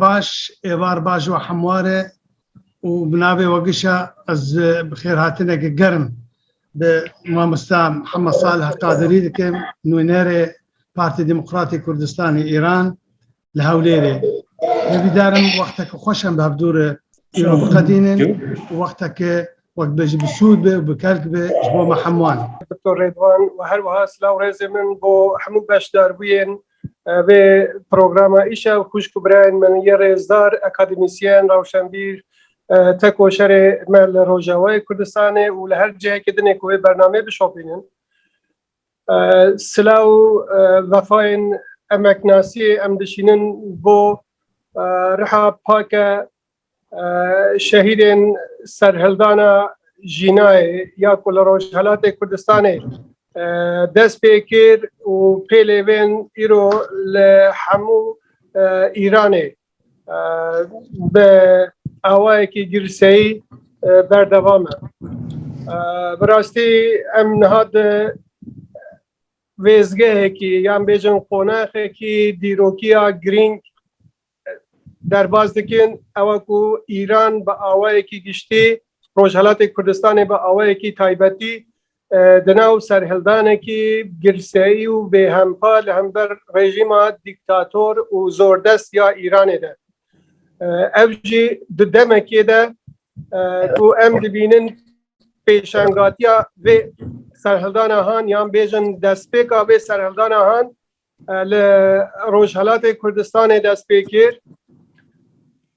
Baş, êvar baş û hemwar e û bi navê Wegişa ez bixêrhatinekê germ bi mamosta Mihemed Salih Qadirî dikim, nûnerê Partî Demokratîk Kurdistanê Îran li Hewlêrê. Hêvîdarim wexteke xweş em bi hev dû re îro biqedînin û wexteke وەک بێ jî bi sûd bê û bi kelk bê ji bo me hemûan. Doktor Rêdwan û her wiha silav û rêzê min bo hemû beşdarbûyên vê programa îşa û xwîşk û birayên min yên rêzdar, akademîsyen, rewşenbîr, tekoşerê me li Rojavayê Kurdistanê û li her cihekê dinê ku vê bernameyê bişopînin. Sila û vefayên emeknasiyê em dişînin bo riha pake Şehîdên serhildana Jînayê ya ku li Rojhelatê Kurdistanê dest pê kir û pêlê bên îro li hemû Îranê bi awayekî girseyî berdewam e. Bi rastî em niha di wêzgehekî yan bêjin qonaxekî dîrokiya girîng derbas dikin ewa ku Îran bi awayekî giştî, Rojhelatê Kurdistanê bi awayekî taybetî di nav serhildanekî girseyî û bêhempa li hember rejîma dîktator û zordest ya Îranê de. Ev jî di demekê de ku em dibînin pêşengatiya vê serhildana han yan bêjin destpêka vê serhildana han Li Rojhilatê Kurdistanê dest pê kir.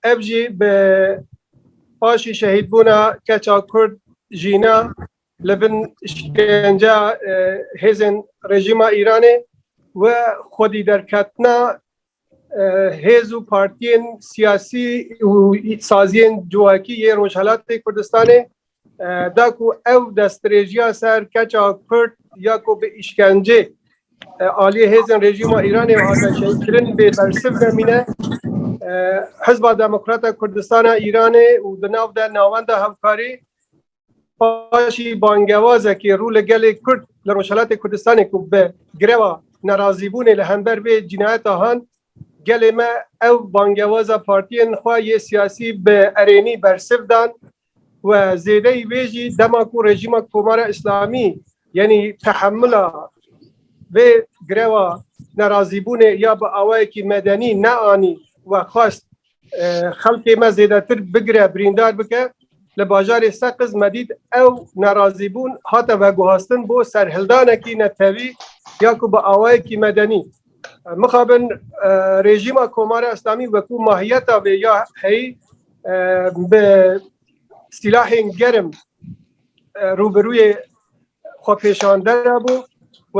Ev jî bi paşî şehîdbûna keça Kurd jîna li bin şkenceya hêzên rejîma Îranê û xwedîderketina hêz û partiyên siyasî û saziyên civakî yê Rojhilatê Kurdistanê da ku ew destdirêjiya ser keça Kurd ya ku bi îşkencê aliyê hêzên rejîma Îranê hate şehîdkirin bê bersiv demîne. Hizba Demokrata Kurdistana Îranê û di nav de navenda hevkarî paşî bangewazekî rû li gelê Kurd li Rojhelatê Kurdistanê ku bi greva nerazîbûnê li hember vê cinayeta han gelê me ew bangewaza partiyên xwe yê siyasî bi erênî bersiv dan We zêdeyî vê jî dema ku rejîma Komara Îslamî yenî tehemila vê greva nerazîbûnê ya bi awayekî medenî neanî we xwest xelkê me zêdetir bigire birîndar bike li bajarê Seqiz me dît ew nerazîbûn hate veguhastin bo serhildanekî netewî ya ku bi awayekî medenî mixabin rejîma Komara Îslamî wekû mahiyeta vê ya heyî bi sîlahên germ rûbirûyê xwepêşandera bû و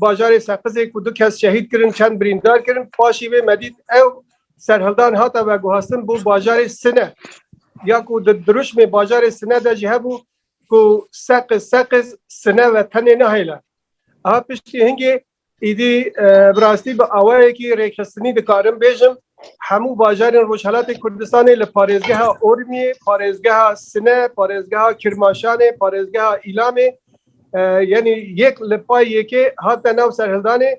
bajarê Seqizê ku du kes şehîd kirin çend birîndar kirin paşî vê me dît ew serhildan hata veguhastin bû bajarê Sine ya ku di dirûşmê bajarê Sine de jî hebû ku Seqiz Seqiz Sine ve tenê nahêle. Aha piştî hingê Îdî bi rastî bi awayekî rêkxistinî dikarim bêjim hemû bajarên Rojhelatê Kurdistanê li parêzgeha Ormiyê, parêzgeha Sine, parêzgeha Kirmaşanê, parêzgeha Îlamê yenî yek li pay yekê hatine nav serhildanê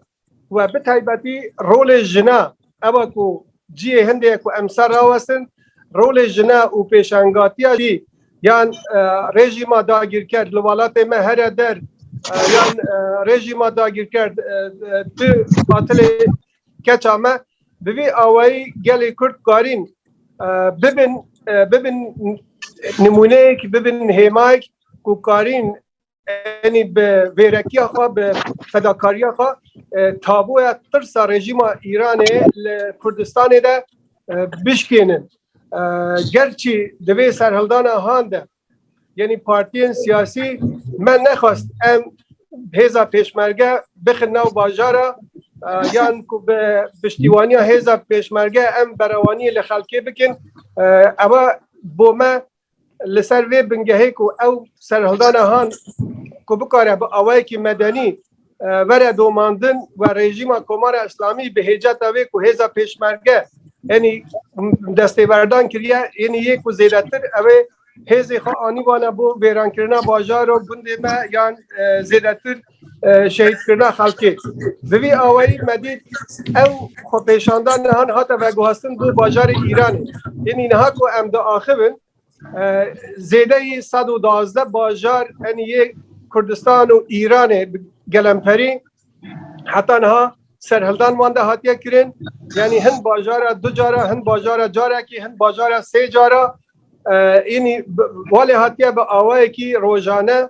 we bi taybetî rolê jina Ew ku cihê hindê ye ku em ser rawestin rolê jina û pêşangatiya jî yan rejîma dagîrker li welatê me here der yan rejîma dagîrker tu qatilê keça me bi vî awayî gelê Kurd karîn bibin bibin nimûneyek bibin hêmayek ku karîn Enî bi vêrekiya xwe bi fedakariya xwe tabuya tirsa rejîma Îranê li Kurdistanê de bişkênin. Gerçî di vê serhildana han de yenî partiyên siyasî me nexwest em hêza pêşmerge bixin nav bajara yan ku bi piştîwaniya hêza pêşmerge em berewaniyê li xelkê bikin ewa bo me Li ser vê bingehê ku ew serhildana han ku bikare bi awayekî medenî vere domandin we rejîma Komara Îslamî bi hêceta vê ku hêza pêşmerge yenî destêberdan kiriye yenî yê ku zêdetir ew ê hêzê xwe anî wana bo vêrankirina bajaro gundê me yan zêdetir şehîdkirina xelkê. Bi vî awayî me dît ew xwepêşandan nihan hate veguhestin bo bajarê Îranê. Yenî niha ku em diaxivin zêdeyî sed û duwazdeh bajar enî yê Kurdistan û Îranê bi gelemperî heta niha serhildan wan de hatiye kirin. Yenî hin bajara du cara, hin bajara carekî, hin bajara sê cara. Yenî walê hatiye bi awayekî rojane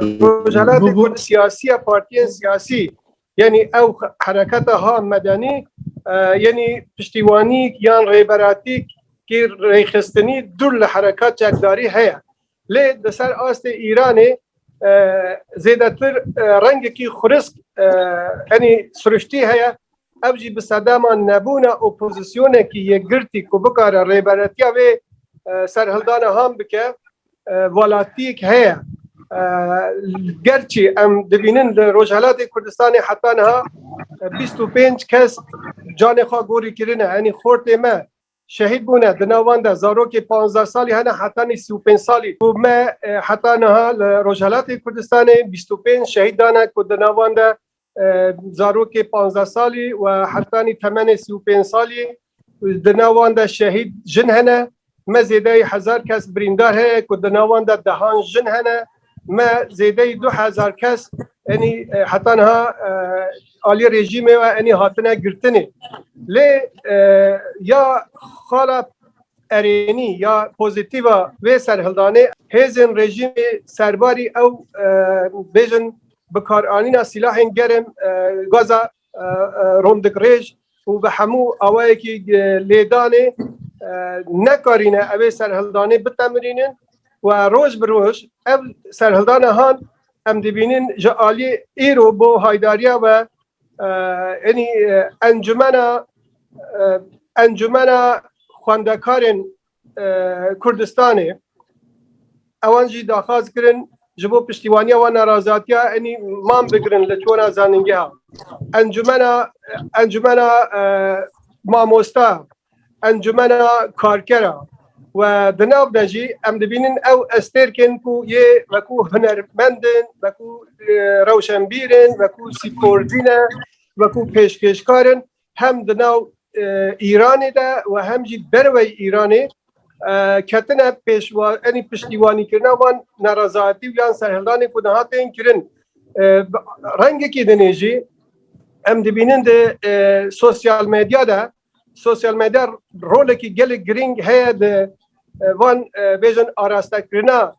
Rojalatê ku siyasiya partiyên siyasî yenî ew hereketa ha medenî yenî piştîwanîk yan rêberatîk kî rêxistinî dûr li herekat çekdarî heye. Lê di ser astê Îranê zêdetir rengekî xurisk yenî siriştî heye Ev jî bi sedema nebûna opozisyonekî yekgirtî ku bikare rêberetiya vê serhildana ham bike welatiyek heye. Gerçî em dibînin li Rojhelatê Kurdistanê heta niha 25 kes canê xwe gorî kirine, yanî xortê me Şehîd bûne. Di nav wan de zarokê panzdeh salî hene heta nîsî û pênc salî ku me heta niha li Rojhilatê Kurdistanê bîst û pênc şehîd dane ku di nav wan de zarokê panzdeh salî û hetanî temenê sî û pênc salî ye. Di nav wan de şehîd jin hene. Me zêdeyî hezar kes birîndar heye ku di nav wan de dehan jin hene. Me zêdeyî du hezar kes enî heta niha aliyê rejîmê ve enî hatine girtinê. Lê ya xala erênî ya pozîtîva vê serhildanê hêzên rejîmê serbarî ew bêjin bikaranîna sîlahên germ gaza rondik rêj û bi hemû awayekî lêdanê nekarîne ev ê serhildanê bitemirînin û roj bi roj ev serhildana han em dibînin ji aliyê îro bo haydariya ve enî encumena encumena xwendekarên Kurdistanê ewan jî daxwaz kirin ji bo piştîwaniya wan nerazatiya enî man bigirin li çona zanîngeha encumena encumena mamosta encumena karkera و di nav de jî em dibînin ew estêrkên ku yê wekû hunermendin wekû rewşenbîrin wekû sîkordîne wekû pêşkêşkarin hem di nav Îranê de û hem jî derwey Îranê ketine pêşwa enî piştîwanîkirina wan nerazayetî û yan serhildanê ku niha tên kirin. Rengekî dinê jî em dibînin di sosyal medya de sosyal medya rolekî gelek girîng heye di van bêjin arastekirina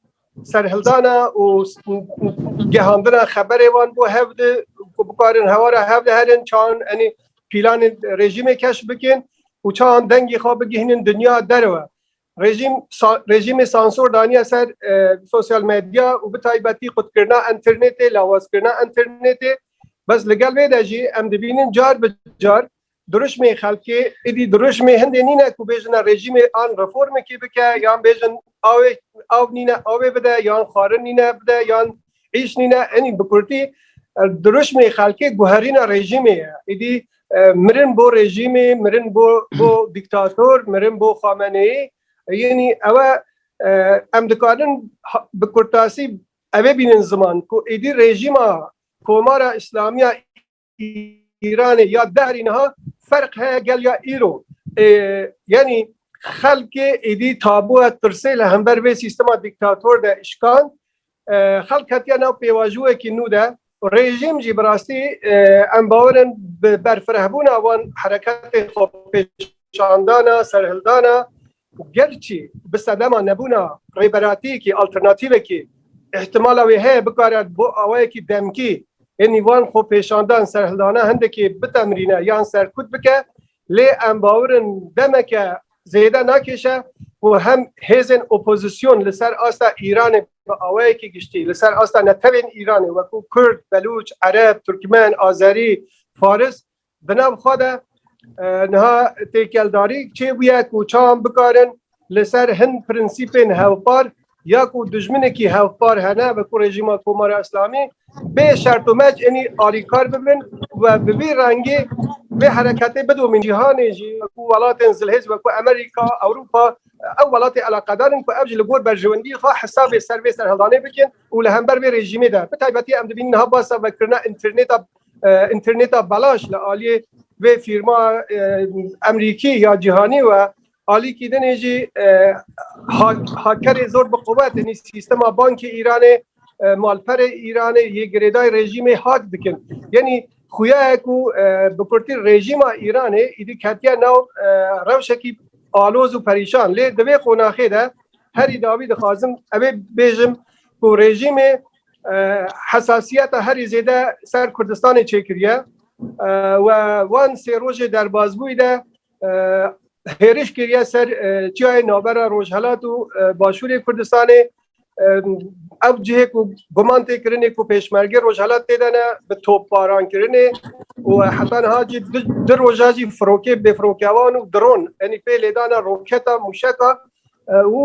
Serhildana û gehandina xeberê wan bo hev di ku bikarin hewara hev de herin çan enê pîlanên rejîmê keş bikin û çan dengê xwe bigihînin dinya derve. Rejîm rejîmê sansor daniye ser sosyal medya û bi taybetî qutkirina înternetê, lawazkirina înternetê. Bes li gel vê de jî em dibînin car bi car Dirûşmê xelkê êdî dirûşmê hindê nîne ku bêjine rejîmê an reformekê bike yan bêjin awê aw nîne awê bide yan xwarin nîne bide yan îş nîne enî bi kurtî dirûşmê xelkê guherîna rejîmê ye êdî mirin bo rejîmê mirin bo bo dîktator mirin bo xameneyî yenî ewe em dikarin bi kurtasî evê bînin ziman ku êdî rejîma Komara Îslamiya Îranê ya dehrî niha ferq heye gel ya îro. Yenî xelkê êdî tabu et pirsê li hember vê sîstema dîktator de îşkand xelk hetiye nav pêvajoyekî nû de rejîm jî bi rastî em bawerin bi berfirehbûna wan hereketê xwe pêşandana serhildana Gerçî bi sedema nebûna rêberatiyekî, alternatîvekî îhtimala wê heye bikare bo awayekî demkî hênî van xwepêşandan serhildana hindekî bitemrîne yan serkut bike lê em bawir in demeke zêde nakêşe ku hem hêzên opozîsyon li ser asta Îranê bi awayekî giştî li ser asta netewên Îranê weku Kurd, Belûç, Ereb, Turkmen, Azerî, Faris Di nav xwe de niha têkeldarî çêbûye ku çawan bikarin li ser hin prinsîpên hevpar ya ku dijminekî hevpar hene bi ku rejîma Komara Îslamî bê şert û mec enî alîkar bibin we bi vî rengî vê hereketê bidomîn cîhanê jî ku welatên zilhêz we ku Amerîka, Ewropa ew welatê eleqedarin ku ev ji li gor berjewendî xwe hesabê ser vê serhildanê bikin û li hember vê rejîmê de bi taybetî em dibînin niha basa vekirina înternêta interneta belaş li aliyê vê fîrma emrîkî ya cîhanî we alîkî dinê jî hakerê zor bi quwet tenî sîstema bankê Îranê malperê Îranê yê girêdayê rejîmê hak dikin. Yenî xuyayek û bi kurtî rejîma Îranê îdî ketiye nav rewşekî aloz û perîşan lê di vê qonaxê de herî dawî dixwazim evê bêjim ku rejîmê hesasiyeta herî zêde ser Kurdistanê çêkiriye we wan sê rojê derbazbûyî de hêriş kiriye ser çiyayê navbera Rojhelat û Başûrê Kurdistanê ev cihê ku guman tê kirinê ku pêşmergê Rojhelat tê de ne bi topbaran kirinê û heta niha jî di roja jî firokê bêfirokewan û dron enî pê lêdana roketa mûşeka û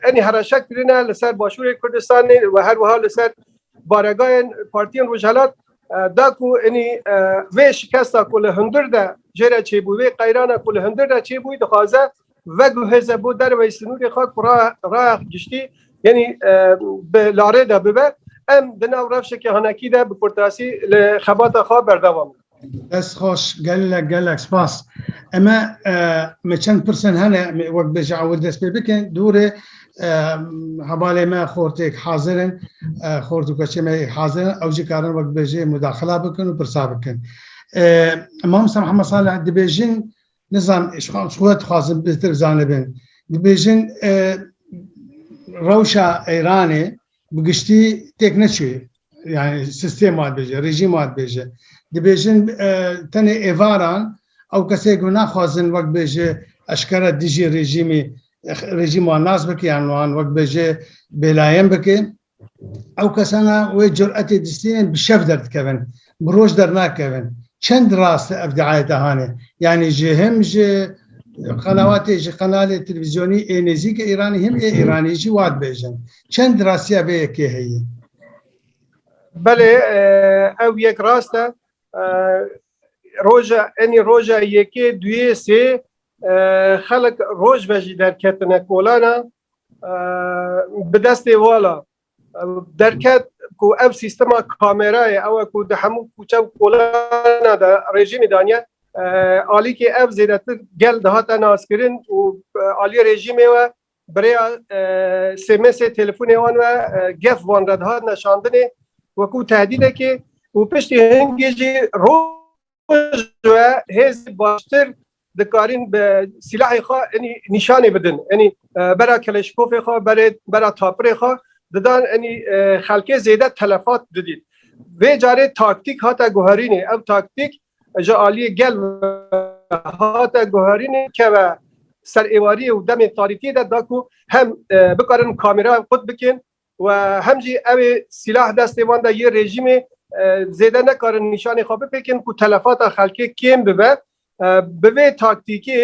enî hereşek kirine li ser Başûrê Kurdistanê û her wiha li ser baregahên partiyên Rojhilat da ku enî vê şikesta ku li hundir de jê re çêbû vê qeyrana ku li hundir de çêbû dixwaze veguhêze bo derveyî sinûrê xwe ku raya giştî yenî bi larê de bibe em di nav rewşeke hanekî de bi kurtasî li xebata xwe berdewam in. Dest xweş, gelek gelek spas. Eme me çend pirsen hene wek bêje ew dest pê bikin. Dûrê hevalê me xortêk hazir in, xort û keçê me hazir in, ew jî karin wek bêje mudaxila bikin û pirsa bikin. Mamosta Mihemed Salih dibêjin Nizam şixan xwe dixwazin bihtir zanibin. Dibêjin e, rewşa Îranê bi giştî têk neçûye. Yani sistema dibêje, rejîma dibêje. Dibêjin e, tenê êvaran ew kesê ku naxwazin wek bêje eşkere dijî rejîmî rejîma nas bike yan wan wek bêje bêlayen bike. Ew kesana wê curetê distînin bi şev derdikevin, bi roj dernakevin. Çend rast e ev diayete hane? Yanî ji him ji qenawatê ji qenalê televîzyonî ê nêzîk e Îranî him ê Îranî jî wa dibêjin. Çend rastiya vê yekê heye? Belê ew yek rast e. Roja enî roja yekê duyê sê xelek roj ve jî derketine kolana Bi destê wala derket ku ev sîstema kamerayê ew e ku di hemû kûçe û kolana de rejîmê daniye alîkê ev zêdetir gel dihate naskirin û aliyê rejîmê we birêya sêmesê telefonê wan we gef van re dihat neşandinê wekû tehdîdekê û piştî hingê jî roj hêzê baştir dikarîn bi sîlahê xwe enî nîşanê bidin. Enî bera keleşkofê xwe berê bera tapirê xwe didan enî xelkê zêde telefat didît. Vê carê taktîk hate guherînê. Ev taktîk ji aliyê gel hate guherînê keve ser êwariyê û demê tarîtiyê de da ku hem bikarin kamera qut bikin û hem jî ew ê sîlah destê wan de yê rejîmê zêde nekarin nîşanê xwe bipêkin ku telefata xelkê kêm bibe. Bi vê taktîkê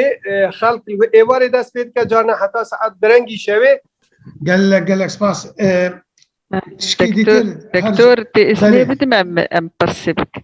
xelk li wê êvarê dest pê dike carna heta saet birengî şevê. Gelek gelek spas. Tişkî dîtir her ji. Doktor, tu îznê bidime em pirsê bikim?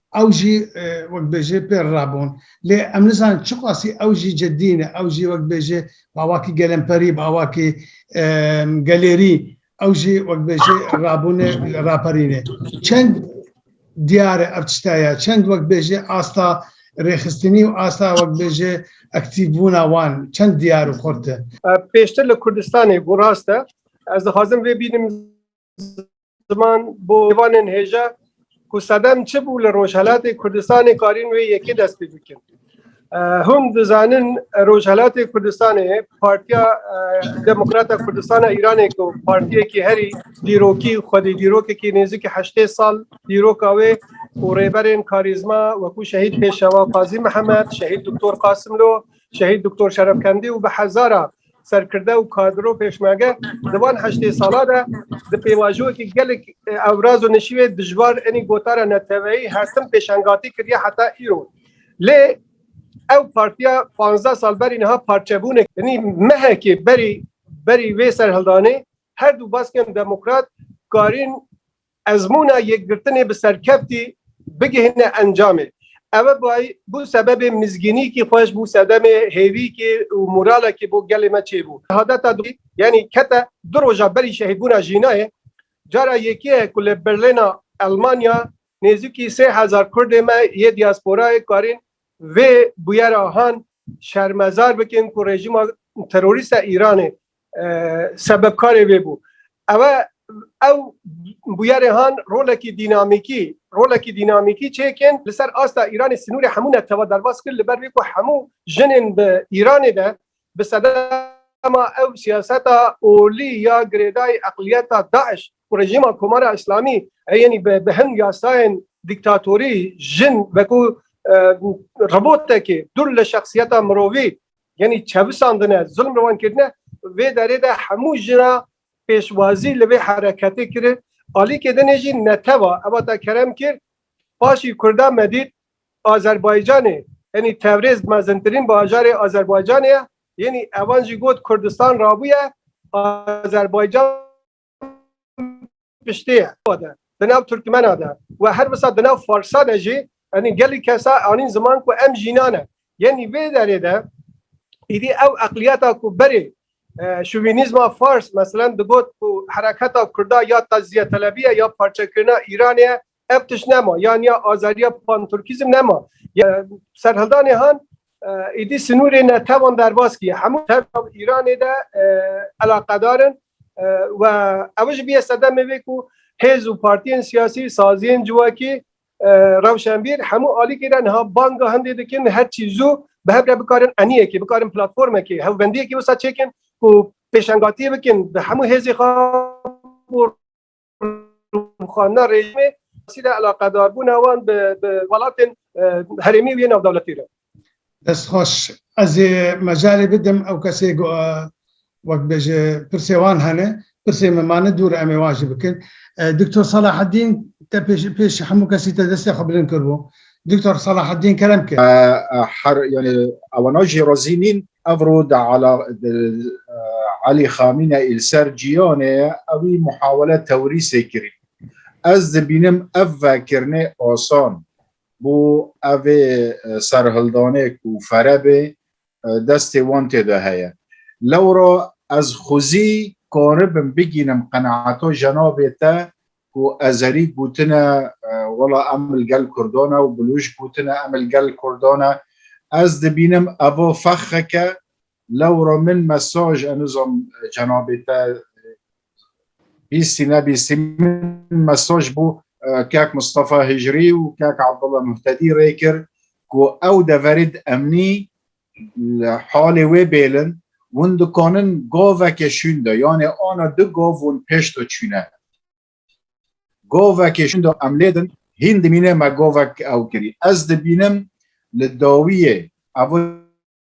Ew jî wek bêjê pê re rabûn. Lê em nizanin çiqasî ew jî cidî ne. Ew jî wek bêjê bi awakî gelemperî, bi awakî gelêrî ew jî wek bêjê rabûne raperîne. Çend diyar e ev tişta ya, çend wek bêjê asta rêxistinî û asta wek bêjê aktîvbûna wan çend diyar û xurt e. Pêştir li Kurdistanê ku rast e, ez dixwazim vê bînim, ziman bo êvanên hêja ku sedem çi bû li Rojhelatê Kurdistanê karîn wê yekê dest pê bikin. Hûn dizanin Rojhelatê Kurdistanê Partiya Demokrata Kurdistana Îranê ku partiyekî herî dîrokî xwedî dîrokekî nêzikî heştê sal dîroka wê û rêberên karîzma wekû şehîd pêşewa Qazî Mihemed, şehîd Doktor Qasimlo, şehîd Doktor Şerefkendî û bi hezara Serkirde û kadro û pêşmerge di van heştê sala de di pêvajoyekî gelek ewraz û nişîwê dijwar enî gotara neteweyî hertim pêşengatî kiriye heta îro. Lê ew partiya panzdeh sal berî niha parçebûne enî mehekê berî berî vê serhildanê her du baskên demokrat karîn Ezmûna yekgirtinê bi serkeftî bigihîne encamê. Ew bay bû sebebê mizgînîkî xweş, bû sedemê hêvîkî û moralekî bo gelê me çêbû. Hadeta dû yanî kete du roja berî şehîdbûna jînayê. Cara yekê ye ku li Berlîna Elmanya nêzîkî sê hezar kurdê me yê diasporayê karîn vê bûyera han şermezar bikin ku rejîma terorîst a Îranê sebebkarê vê bû. Ew e ew bûyerê han rolekî dînamîkî rolekî dînamîkî çêkên li ser asta Îranê sinûrê hemû netewa derbas kir li ber vê ku hemû jinên bi Îranê de bi sedema ew siyaseta olî ya girêdayî eqliyeta DAIŞ û rejîma Komara Îslamî yenî bi hin yasayên dîktatorî jin wekû robotekê dûr li şexsiyeta mirovî Yanî çevisandine, zilm li wan kirine vê derê de hemû jin re pêşwazî li vê hereketê kirin. Alîkê din ê jî neteva ev hate kerem kir. Paşî Kurda me dît Azerbaycanê yanî Tewrêz mezintirîn bajarê Azerbaycanê ye. Yanî evan jî got Kurdistan rabûye Azerbaycan. piştê ye. Di nav Tirkmena de we her wisa di nav Farsa de jî enî gelî kesa anîn ziman ku em jînan e. Yenî vê derê de îdî ew eqliyeta ku berê şovînîzma Fars meselen digot ku hereketa Kurda ya tecziyetelebî ye ya parçekirina Îranê ye Ev tişt nema yan ya azadiya panturkîzm nema. Serhildanê han êdî sinûrê netewan derbas kiye. Hemû tevra Îranê de elaqedar in و ew ji bîye sedemê vê ku hêz û partiyên siyasî, saziyên civakî, rewşenbîr hemû alîkî re niha banga hindê dikin her çî zû bi hev re bikarin eniyekê, bikarin platformekê, hewbendiyekê wisa çêkin ku pêşengatiyê bikin bi hemû hêzê xwe xanna rejimê sîle elaqedarbûna wan bi welatên herêmî û yê navdewletî re. Dest xweş. Ez ê mejalê bidim ew kesê ku wek bêje pirsê wan hene, pirsê me mane dûr em ê wan jî bikin. Doktor Salaheddîn te pêş pêş hemû kesî te destê xwe bilind kiribû. Doktor Salaheddîn Kerem kir. Her yani ewana jî razî nîn ev ro de ala Elî Xamîne îl ser cîyanê ewî muhawele tewrîsê kirî. Ez dibînim ev vekirnê asan bû evê serhildanê ku ferebê destê wan tê de heye. Lewra ez xwezî karibim bigînim qenaeta jenabê te ku ezerî gotine wela em li gel kurdan e û bilûj gotine em li gel kurdan e. Ez dibînim eva fexxeke lewra min mesaj enuzam jenabê te Bîstî nebîstî min mesaj bû kek Mustafa Hicrî û kek Abdullah Muhtedî rê kir ku ew deverê di emnî li halê wê bêlin hûn dikanin goveke şûn de yanê ana du gov hûn pêş de çûne govekê şûn de em lêdin hîn dimîne me govek ew kirî ez dibînim li dawiyê ev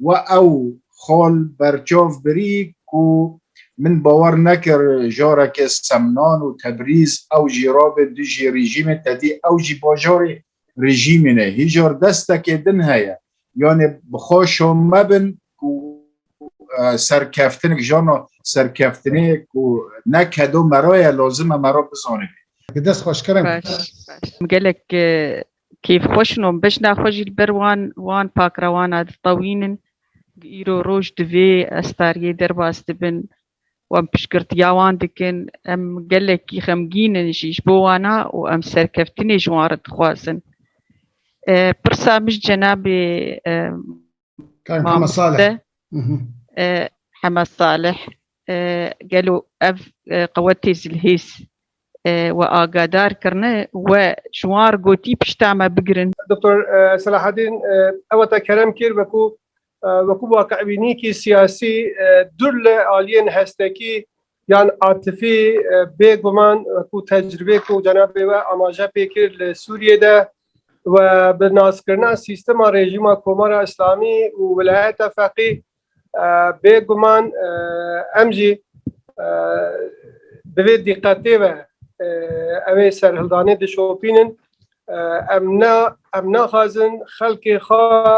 We ew xol berçav birî ku min bawer nekir jareke Semnan û Tebrîz ew jî rabe dijî rîjîmê tedî ew jî bajarê rîjîmê ne. Hîjar destekê din heye. Yanê bi xwe şome bin ku serkeftinek jana serkeftinê ku ne kedo me re ye lazim e me re bizanibê. Bi dest xweş kirin. Baş baş. Gelek Keyf xweş in û bejna xwe jî li ber wan wan pakrewana diteqînin ku îro roj di vê estariyê derbas dibin. Wan piştgirtiya wan dikin. Em gelekî xemgîn in jî ji bo wan a û em serkeftinê ji wan re dixwazin. Pirsa min ji cenabê Mamostê Hema Salih gelo ev qewetê zilhêz we agadar kirine we ji wan re gotî pişta me bigirin. Doktor Selahedîn eweta kerem kir wekû wekû waqi'bînîkî siyasî dur li aliyên hestekî Yan Atifî bê guman ku tecrîbê ku cenabê we amaje pê kir li Sûriyê de we bi naskirina sîstema rejîma Komara Îslamî û wilayeta feqî bê guman em jî di vê dîqetê ve ew ê serhildanê dişopînin. Em ne em naxwazin xelkê xwe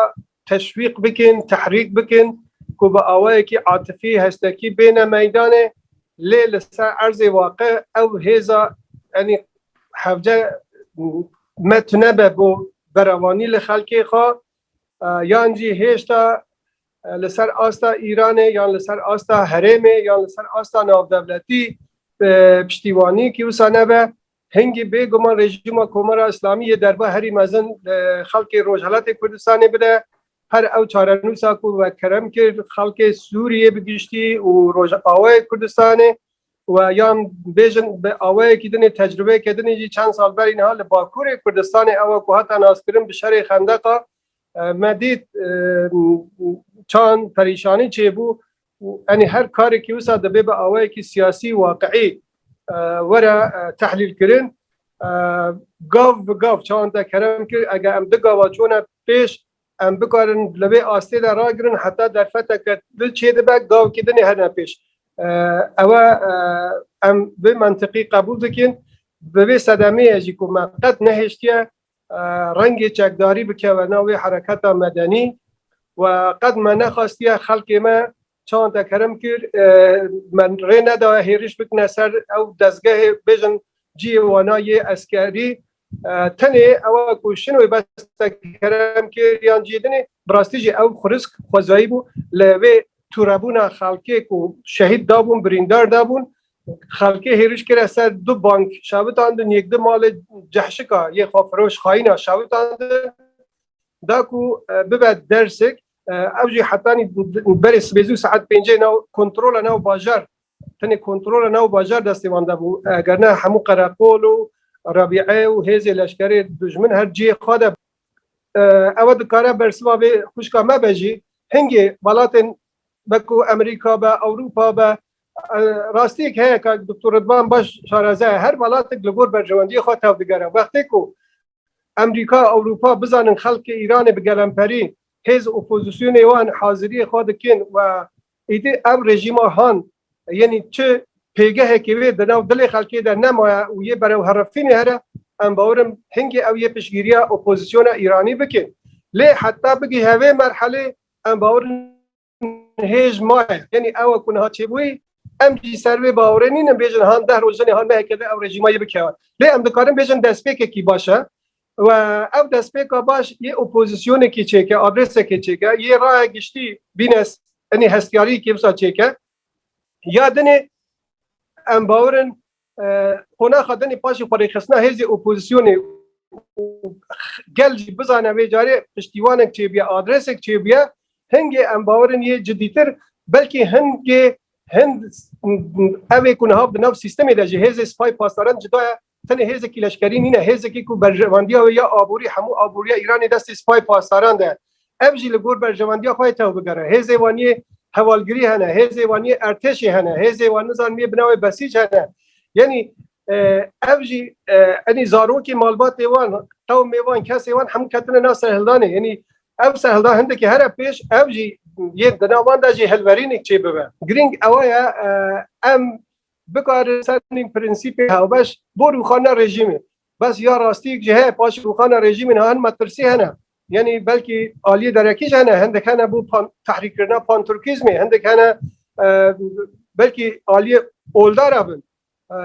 teşwîq bikin, tehrîk bikin ku bi awayekî atifî, hestekî bêne meydanê lê li ser erzê waqe ew hêza yanî hevce me tunebe bo berevanî li xelkê xwe yan jî hêşta li ser asta Îranê yan li ser asta herêmê yan li ser asta navdewletî piştîwanî kî wisa nebe Hingî bê guman rejîma Komara Îslamî yê derba herî mezin li xelkê Rojhilatê Kurdistanê bide. Her ew çarenûsa ku we kerem kir xelkê Sûriyê bi giştî û Rojavayê Kurdistanê we yan bêjin bi awayekî din ê tecrûbeyeke din ê jî çend sal berî niha li Bakurê Kurdistanê ew e ku hate naskirin bi şerê xendeqa me dît çand perîşanî çêbû û enê her karekî wisa dibê bi awayekî siyasî waqiî were tehlîlkirin. Gav bi gav çawan te kerem kir ege em di gava çûne pêş em bikarin li vê astê de ragirin heta derfeteke din çêdibe gavekî din ê hene pêş. Ewe em vê mentiqî qebûl dikin bi vê sedemeyê jî ku me qet nehêştiye Rengê çekdarî bikeve nav wê hereketa medenî û qet me nexastiye xelkê me çawan te kerim kir me rê nedaye hêriş bikine ser ew dezgehê bêjin ciyê wana yê eskerî tenê ewa ku şinwê bes te kerem kir yan ciyê dinê bi rastî jî ew xurisk xwezayî bû li vê tûrebûna xelkê ku şehîd dabûn birîndar dabûn Xelkê hêriş kire ser du bank şewitandin yek di malê cehşika yê xwefiroş xayîna şewitandin da ku bibe dersek ew jî hetanî berê sibê zû saet pêncê nav kontrola nav bajar tenê kontrola nav bajar destê wan de bû eger ne hemû qereqol û rabîe û hêzê leşkerê dijmin her ciyê xwe de ewe dikare bersiva vê xwişka me be jî hingê welatên be ku Amerîka be Ewropa be Rastiyek heye ka Doktor Ridvan baş şaraze ye. Her welatek li gor berjewendiyê xwe tev digere. Wextê ku Emrîka, Ewropa bizanin xelkê Îranê bi gelemperî, hêz opozisyonê wan haziriyê xwe dikin û êdî ev rejîma han yenî çi pêgehekê wê di nav dilê xelkê de nemaye û yê berewherifînê here, em bawer in hingê ew yê piştgîriya opozisyona Îranî bikin. Lê heta bigîhe vê merhelê em bawer in hêj maye. Yanî ew e ku niha çêbûyê em jî ser wê bawerê nîn em bêjin han deh roj jinê han neheke di ew rejîma yê bikeve. Lê em dikarin bêjin destpêkekî baş e. We ew destpêka baş yê opozîsyonekî çêke, adrêsekê çêke, yê raya giştî bînes enê hestiyariyekê wisa çêke. Ya dinê em bawerin Qonaxa din ê paşê xwerêxistina hêzê opozîsyonê û gel jî bizane vê carê piştîwanek çêbûye, adresek çêbûye, hingê em bawerin yê cidîtir, belkî hingê hin ev ê ku niha di nav sîstemê de ji hêzê Sipayê Pasdaran cuda ye, tenê hêzekî leşkerî nîne, hêzekî ku berjevandiya wê ya aborî hemû aboriya Îranê destê Sipayê Pasdaran de ye. Ev jî li gor berjewendiya xwe yê tev bigere. Hêzê wan yê hevalgirî hene, hêzê wan yê ertêşê hene, hêzê wan nizanim yê bi navê besîc hene. Yenî ev jî enî zarokê malbatê wan, qewmê wan, kesê wan hemû ketine nav serhildanê. Yenî ev serhildan hindekî here pêş ev jî yên di nav wan de jî hilverînêk çê bibe. Girîng ewa ye em bikarin ser nîn prensîpê hewbeş bo rûxanina rejîmê. Bes ya rastî ji heye paşê rûxanina rejîmê niha hin metirsî hene. Yanî belkî aliyê derekî jî hene, hindek hene bo tehrîkkirina panturkîzmê, hindek hene belkî aliyê oldar a bin.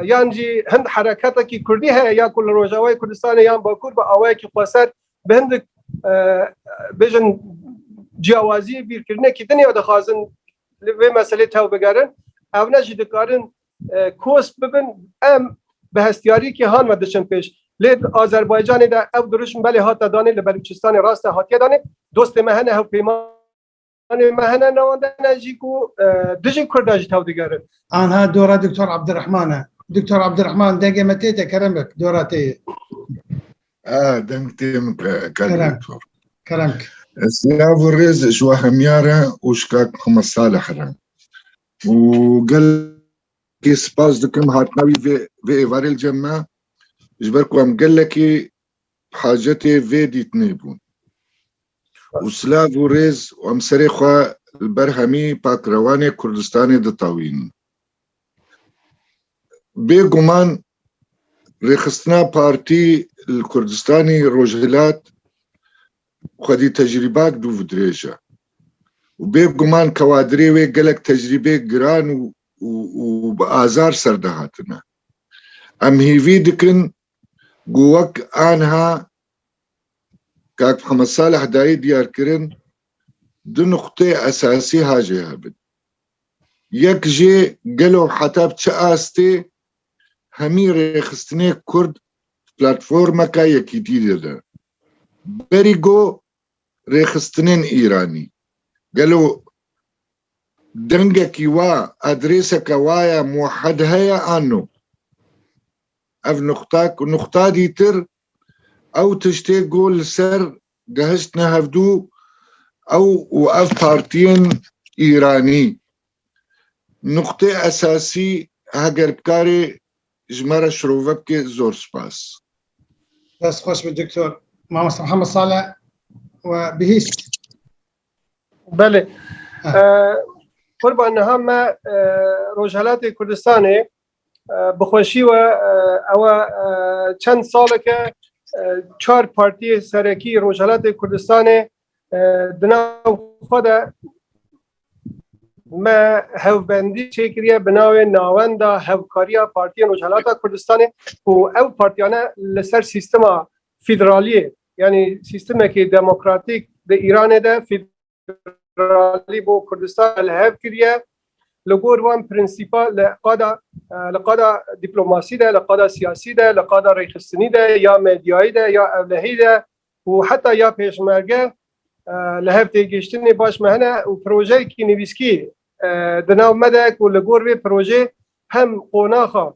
Yan jî hind hereketekî kurdî heye ya ku li Rojavayê Kurdistanê yan Bakur bi awayekî xweser bi hindik bêjin ciyawazî bîrkirinekî din ya dixwazin li vê meselê tevbigerin. Ew ne jî dikarin Kos bibin em bi hestiyariyekê han ve diçin pêş. Lê di Azerbaycanê de ew dirûşm belê hate danê li Belûçistanê rast e hatiye danê. Dostê me hene hewpeymanê me hene newan de ne jî ku dijî kurd e jî tewdigerin. Anha dora Diktor Abdirehman e. Diktor Abdirehman dengê me tê te kerem bik dora te yê. A deng tê min te kal diktor. Kerem bik. Silav û rêz ji we hemyar e û ji kak Mihemed Salih re. û gelekî spas dikim hatina wî vê vê êvarê li cem me ji ber ku em gelekî bi hacetê vê dîtinê bûn û silav û rêz û em serê xwe li ber hemî pakrewanê Kurdistanê ditewînin. Bê guman rêxistina partî li Kurdistanî Rojhilat Xwedî tecrîbak dû vi dirêj e û bê guman ke wa dirê wê gelek tecrîbê giran û bi azar serde hatine. Em hîvî dikin ku wek anha kak Mihemed Saleh dayî diyar kirin du nuqtê esasî ha jê hebin. Yek jê gelo heta bi çi astê hemî rêxistinê kurd platformeke yekîtî dide. Berî got rêxistinên Îranî gelo dengekî wa, adrêseke wa ya muwehed heye an no? Ev nuqta ku nuqta dîtir ew tiştê got li ser gehiştine hevdû ew û ev partiyên Îranî Nuqteyê esasî heger bikarî ji me re şirove bikî zor spas. Dest xweş be Doktor Mamosta Mihemed Saleh we bihîst. Belê. Qurban niha me Rojhelatê Kurdistanê bi xweşî we ewe çend saleke çar partiyê serekî Rojhelatê Kurdistanê Di nav xwe de me hevbendî çêkiriye bi navê Nawenda Hevkariya Partiyên Rojhilata Kurdistanê û ew partiyane li ser sîstema fîdraliyê yanî sîstemekî demokratîk di Îranê de fîdralî bo Kurdistan li hev kiriye li gor wan prinsîpa li qada li qada dîplomasî de li qada siyasî de li qada rêxistinî de ya medyayî de ya evlehî de û heta ya Pêşmerge li hev têgihiştinê baş me hene û projeyekî nivîskî di nav me de ku li gor vê projê hem qonaxa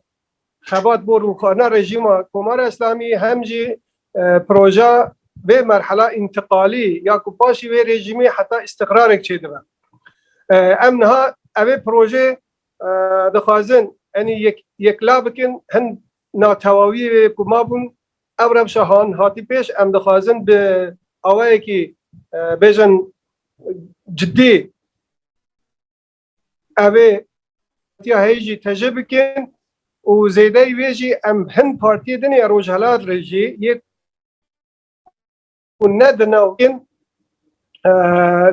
xebat bo rûxana rejîma Komara Îslamî hem jî proja vê merhela întiqalî ya ku paşî vê rejîmê heta îstiqrarek çêdibe. Em niha evê projê dixwazin enî yek la bikin hin natewawiyê ku mabûn Ev rewşa han hatî pêş, em dixwazin bi awayekî bêjin cidî ev ê tiya heyî jî tejê bikin û zêdeyî wê jî em hin partiyê din ê Rojhilat re jî yê û ne di nav kin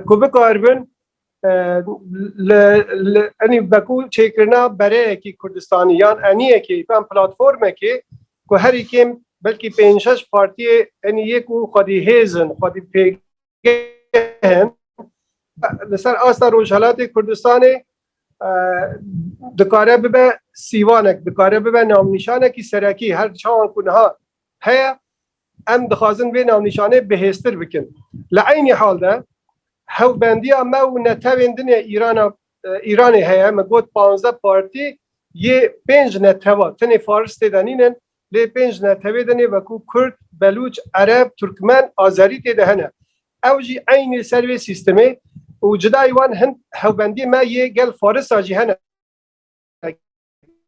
ku bikaribin li Beku çêkirina bereyekî Kurdistanî yan eniyekê yan platformekê ku herî kêm belkî pênc şeş partiyê enî yê ku xwedî hêz in xwedî pêgeh in li ser asta Rojhelatê Kurdistanê dikare bibe sîvanek dikare bibe navnîşanekî serekî her çawan ku niha heye Em dixwazin vê navnîşanê bihêztir bikin. Li eynî hal de hewbendiya me û netewên din ê Îrana Îranê heye. Min got panzdeh partî yê pênc netewa, tenê faris tê de nînin lê pênc netewê din ê wekû kurd, belûç, ereb, turkmen, azerî tê de hene. Ew jî eynî li ser vê sîstemê û cudayî wan hin hewbendiyê me yê gel farisa jî hene.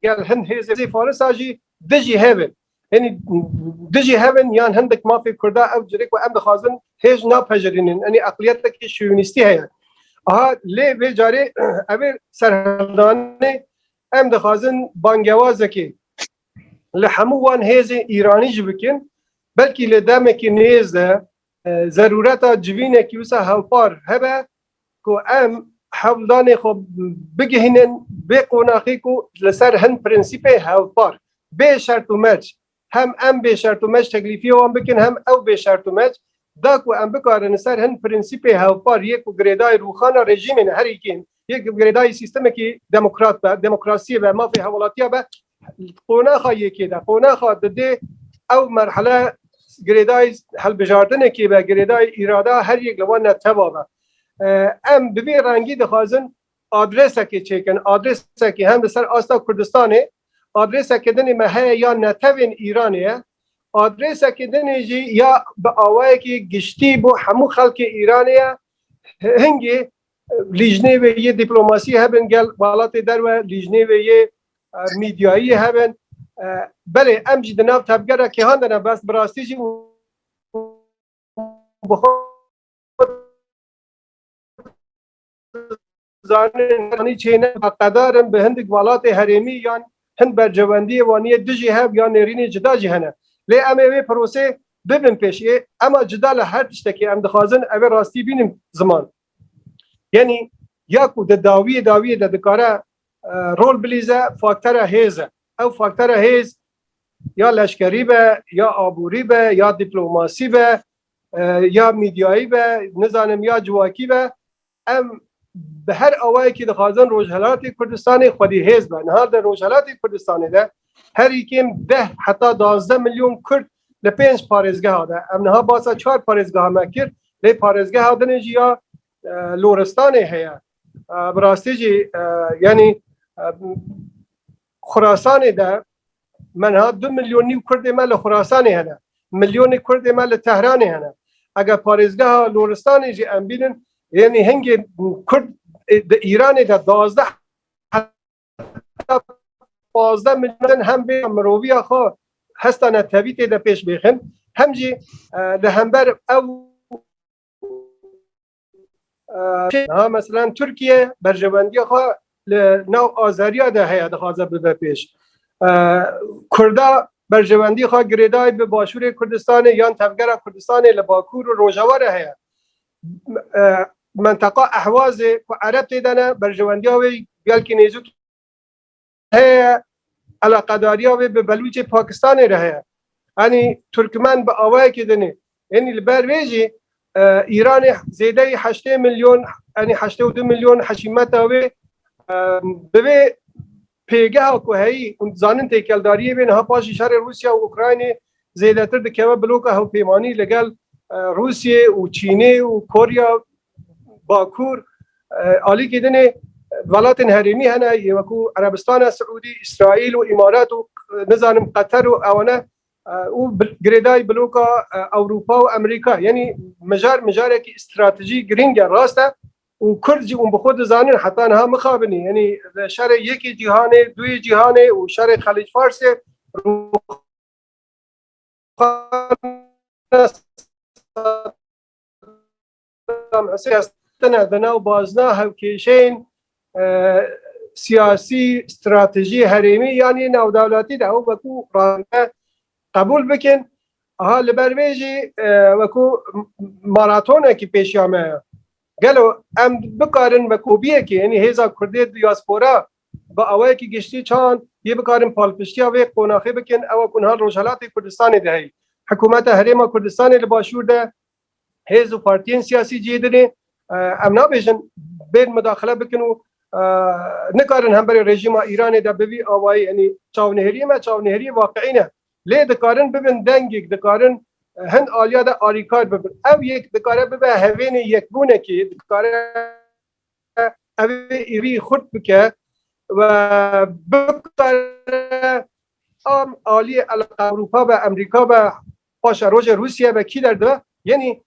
gel hin hêzê farisa jî dijî hevin henî dijî hevin yan hindik mafê kurda ew cirêk ku em dixwazin hêj napejirînin enî eqliyetekî şûnîstî heye aha lê vê carê ev ê serhildanê em dixwazin bangewazekê li hemû wan hêzên îranî jî bikin belkî lê demekî nêz de Zerûreta civînekî wisa hevpar hebe ku em hewldanê xwe bigihînin bê qonaxê ku li ser hin prensîpê hevpar, bê şert û merc, hem em bê şert û merc teklîfiyê wan bikin hem ew bê şert û merc, da ku em bikarin li ser hin prensîpê hevpar yê ku girêdayî rûxana rejîmên herî kêm Yê girêdayî sîstemekî demokrat be, demokrasiyê be, mafê hewlatiya be qonaxa yekê de qonaxa didê ew merhele girêdayî helbijartinekê be girêdayî îrada her yek li wan ne teva be. Em bi vê rengî dixwazin adresekê çêkin adresekê hem li ser asta Kurdistanê adresekê dinê me heye ya netevên Îranê ye adresekê dinê jî ya bi awayekî giştî bo hemû xelkê Îranê ye hingê Lîjnê wê yê dîplomasî hebin gel welatê derve, lîjnê wê yê mîdyayî hebin. Belê em jî di nav tevgera kêhan de ne bes bi rastî jî bi xwe zanin anî çê ne beqedar in bi hindik welatê herêmî yan hin bercewendiyê waniyê dijî hev yan nêrînê cida jî hene. Lê em ê wê prosê Bibin pêş ê ema cida li her tiştekê em dixwazin ev ê rastî bînin ziman. Yenî ya ku di dawiyê dawiyê de dikare rol bilîze faktere hêz e. Ew faktere hêz ya leşkerî be, ya aborî be, ya dîplomasî be, ya mîdyayî be, nizanim ya civakî be. Em bi her awayekî dixwazin Rojhilatê Kurdistanê xwedî hêz be. Niha di Rojhilatê Kurdistanê de herî kêm deh heta duwazdeh milyon Kurd li pênc parêzgeha de. Em niha basa çar parêzgeha me kir, lê parêzgeha din jî ya Loristanê heye. Bi rastî jî yanî Xurasanê de menha du milyon nîw kurdê me li Xurasanê hene, milyonê kurdê me li Tehranê hene. Eger parêzgeha Loristanê jî em bînin yanî hingê kurd di Îranê de dazdeh heta pazdeh milyon din hem vê miroviya xwe hesta netewî tê de pêş bêxin hem jî li hember ew Ha mesela Türkiye berjewendiya xwe li nav azeriya de heye dixwaze bibe pêş. Kurda berjewendiya xwe girêdayê bi Başûrê Kurdistanê yan Tevgera Kurdistanê li Bakûr û Rojavayê heye. Menteqa Ehwazê ku Ereb tê de ne berjewendiya wê gelkî nêzûk heye eleqedariya wê bi Belûcê Pakistanê re heye. Enî Turkmen bi awayekê din e. Enî li ber vê jî Îranê zêdeyî heştê milyon enî heştê û du milyon heşîmeta wê bi vê pêgeha ku heyî û dizanin têkeldariyê wê niha paşî şerê Rûsya û Ukraynê zêdetir dikeve bloka hewpêmanî ligel Rûsyê û Çînê û Korya Bakur, alîkî din e welatên herêmî hene yê wekû Erebistana Siûdî, Îsraîl û Îmarat û nizanim Qeter û ewane û girêdayî bloka Ewropa û Amerîka yenî mijar mijarekî stratejî girîng e rast e û Kurd jî ûn bi xwe dizanin heta niha mixabinî yenî li şerê yekê cîhanê, duyê cîhanê û şerê Xelîc Farsê rûxana Saddam Hussein tine di nav bazna hevkêşeyên siyasî, stratejî, herêmî yanî navdewletî de ew wekû rande qebûl bikin. Aha li ber vê jî wekû maratonekî pêşiya me ye. Gelo em bikarin vekobiyekê yanî hêza Kurdê diyaspora bi awayekî giştî çand yê bikarin palpiştiya vê qonaxê bikin ew ku niha li Rojhilatê Kurdistanê de heye. Hikûmeta Herêma Kurdistanê li Başûr de Hêz û partiyên siyasî cihê din ê. Em nabêjin bên midaxile bikin û nikarin hemberî rejîma Îranê de bi vî awayî yanî çavnihêriyê me çavnihêriyê waqiî ne. Lê dikarin bibin dengêk, dikarin hin aliya de alîkar bibin. Ev yek dikare bibe hevênê yekbûnekê, dikare ev ê êrî xurt bike ve bikare am aliyê eleqa Ewropa be, Emrîka be, Paşa rojê Rûsiyê ve kî derdibe? Yenî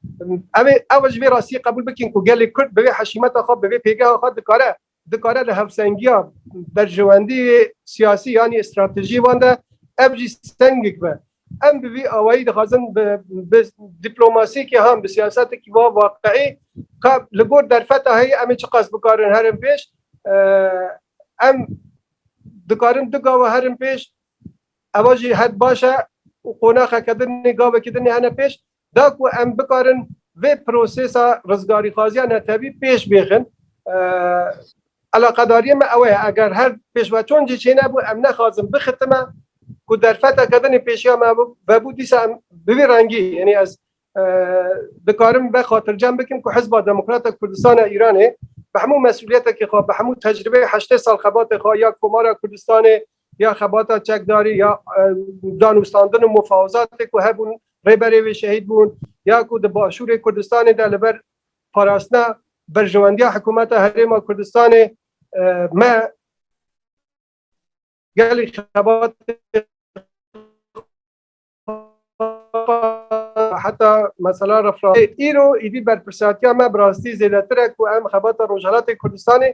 ew ê ew ji vê rastiyê qebûl bikin ku gelê Kurd bi vê heşîmeta xwe, bi vê pêgeha xwe dikare dikare li hevsengiya berjewendiyê siyasî yanî stratejî wan de ev jî sengik be. Em bi vî awayî dixwazin bi bi dîplomasiyekî ham bi siyasetekî wa waqiî ka li gor derfeta heyî em ê çiqas bikarin herin pêş. Em dikarin du gawa herin pêş. Eva jî heq baş e û qonaxeke din ê, gavekî din ê hene pêş da ku em bikarin vê prosêsa rizgarîxwaziya netewî pêş bêxin. Eleqedariyê me ew ye eger her pêşveçûn jî çênebû em nexwazin bixitime ku derfeteke din ê pêşiya me vebû dîsa em bi vî rengî yanî ez dikarim ve xatircem bikim ku Hizba Demokrata Kurdistan a Îranê bi hemû mesûliyetekê xwe bi hemû tecribê heştê sal xebatê xwe ya Komara Kurdistanê ya xebata çekdarî ya danûstandin û mufawizatê ku hebûn rêberê wê şehîd bûn ya ku di başûrê Kurdistanê de li ber parastina berjewendiya hikûmeta Herêma Kurdistanê me gelê xebatê heta mesela refra îro îdî berpirsatiya me bi rastî zêdetir e ku em xebata Rojhelatê Kurdistanê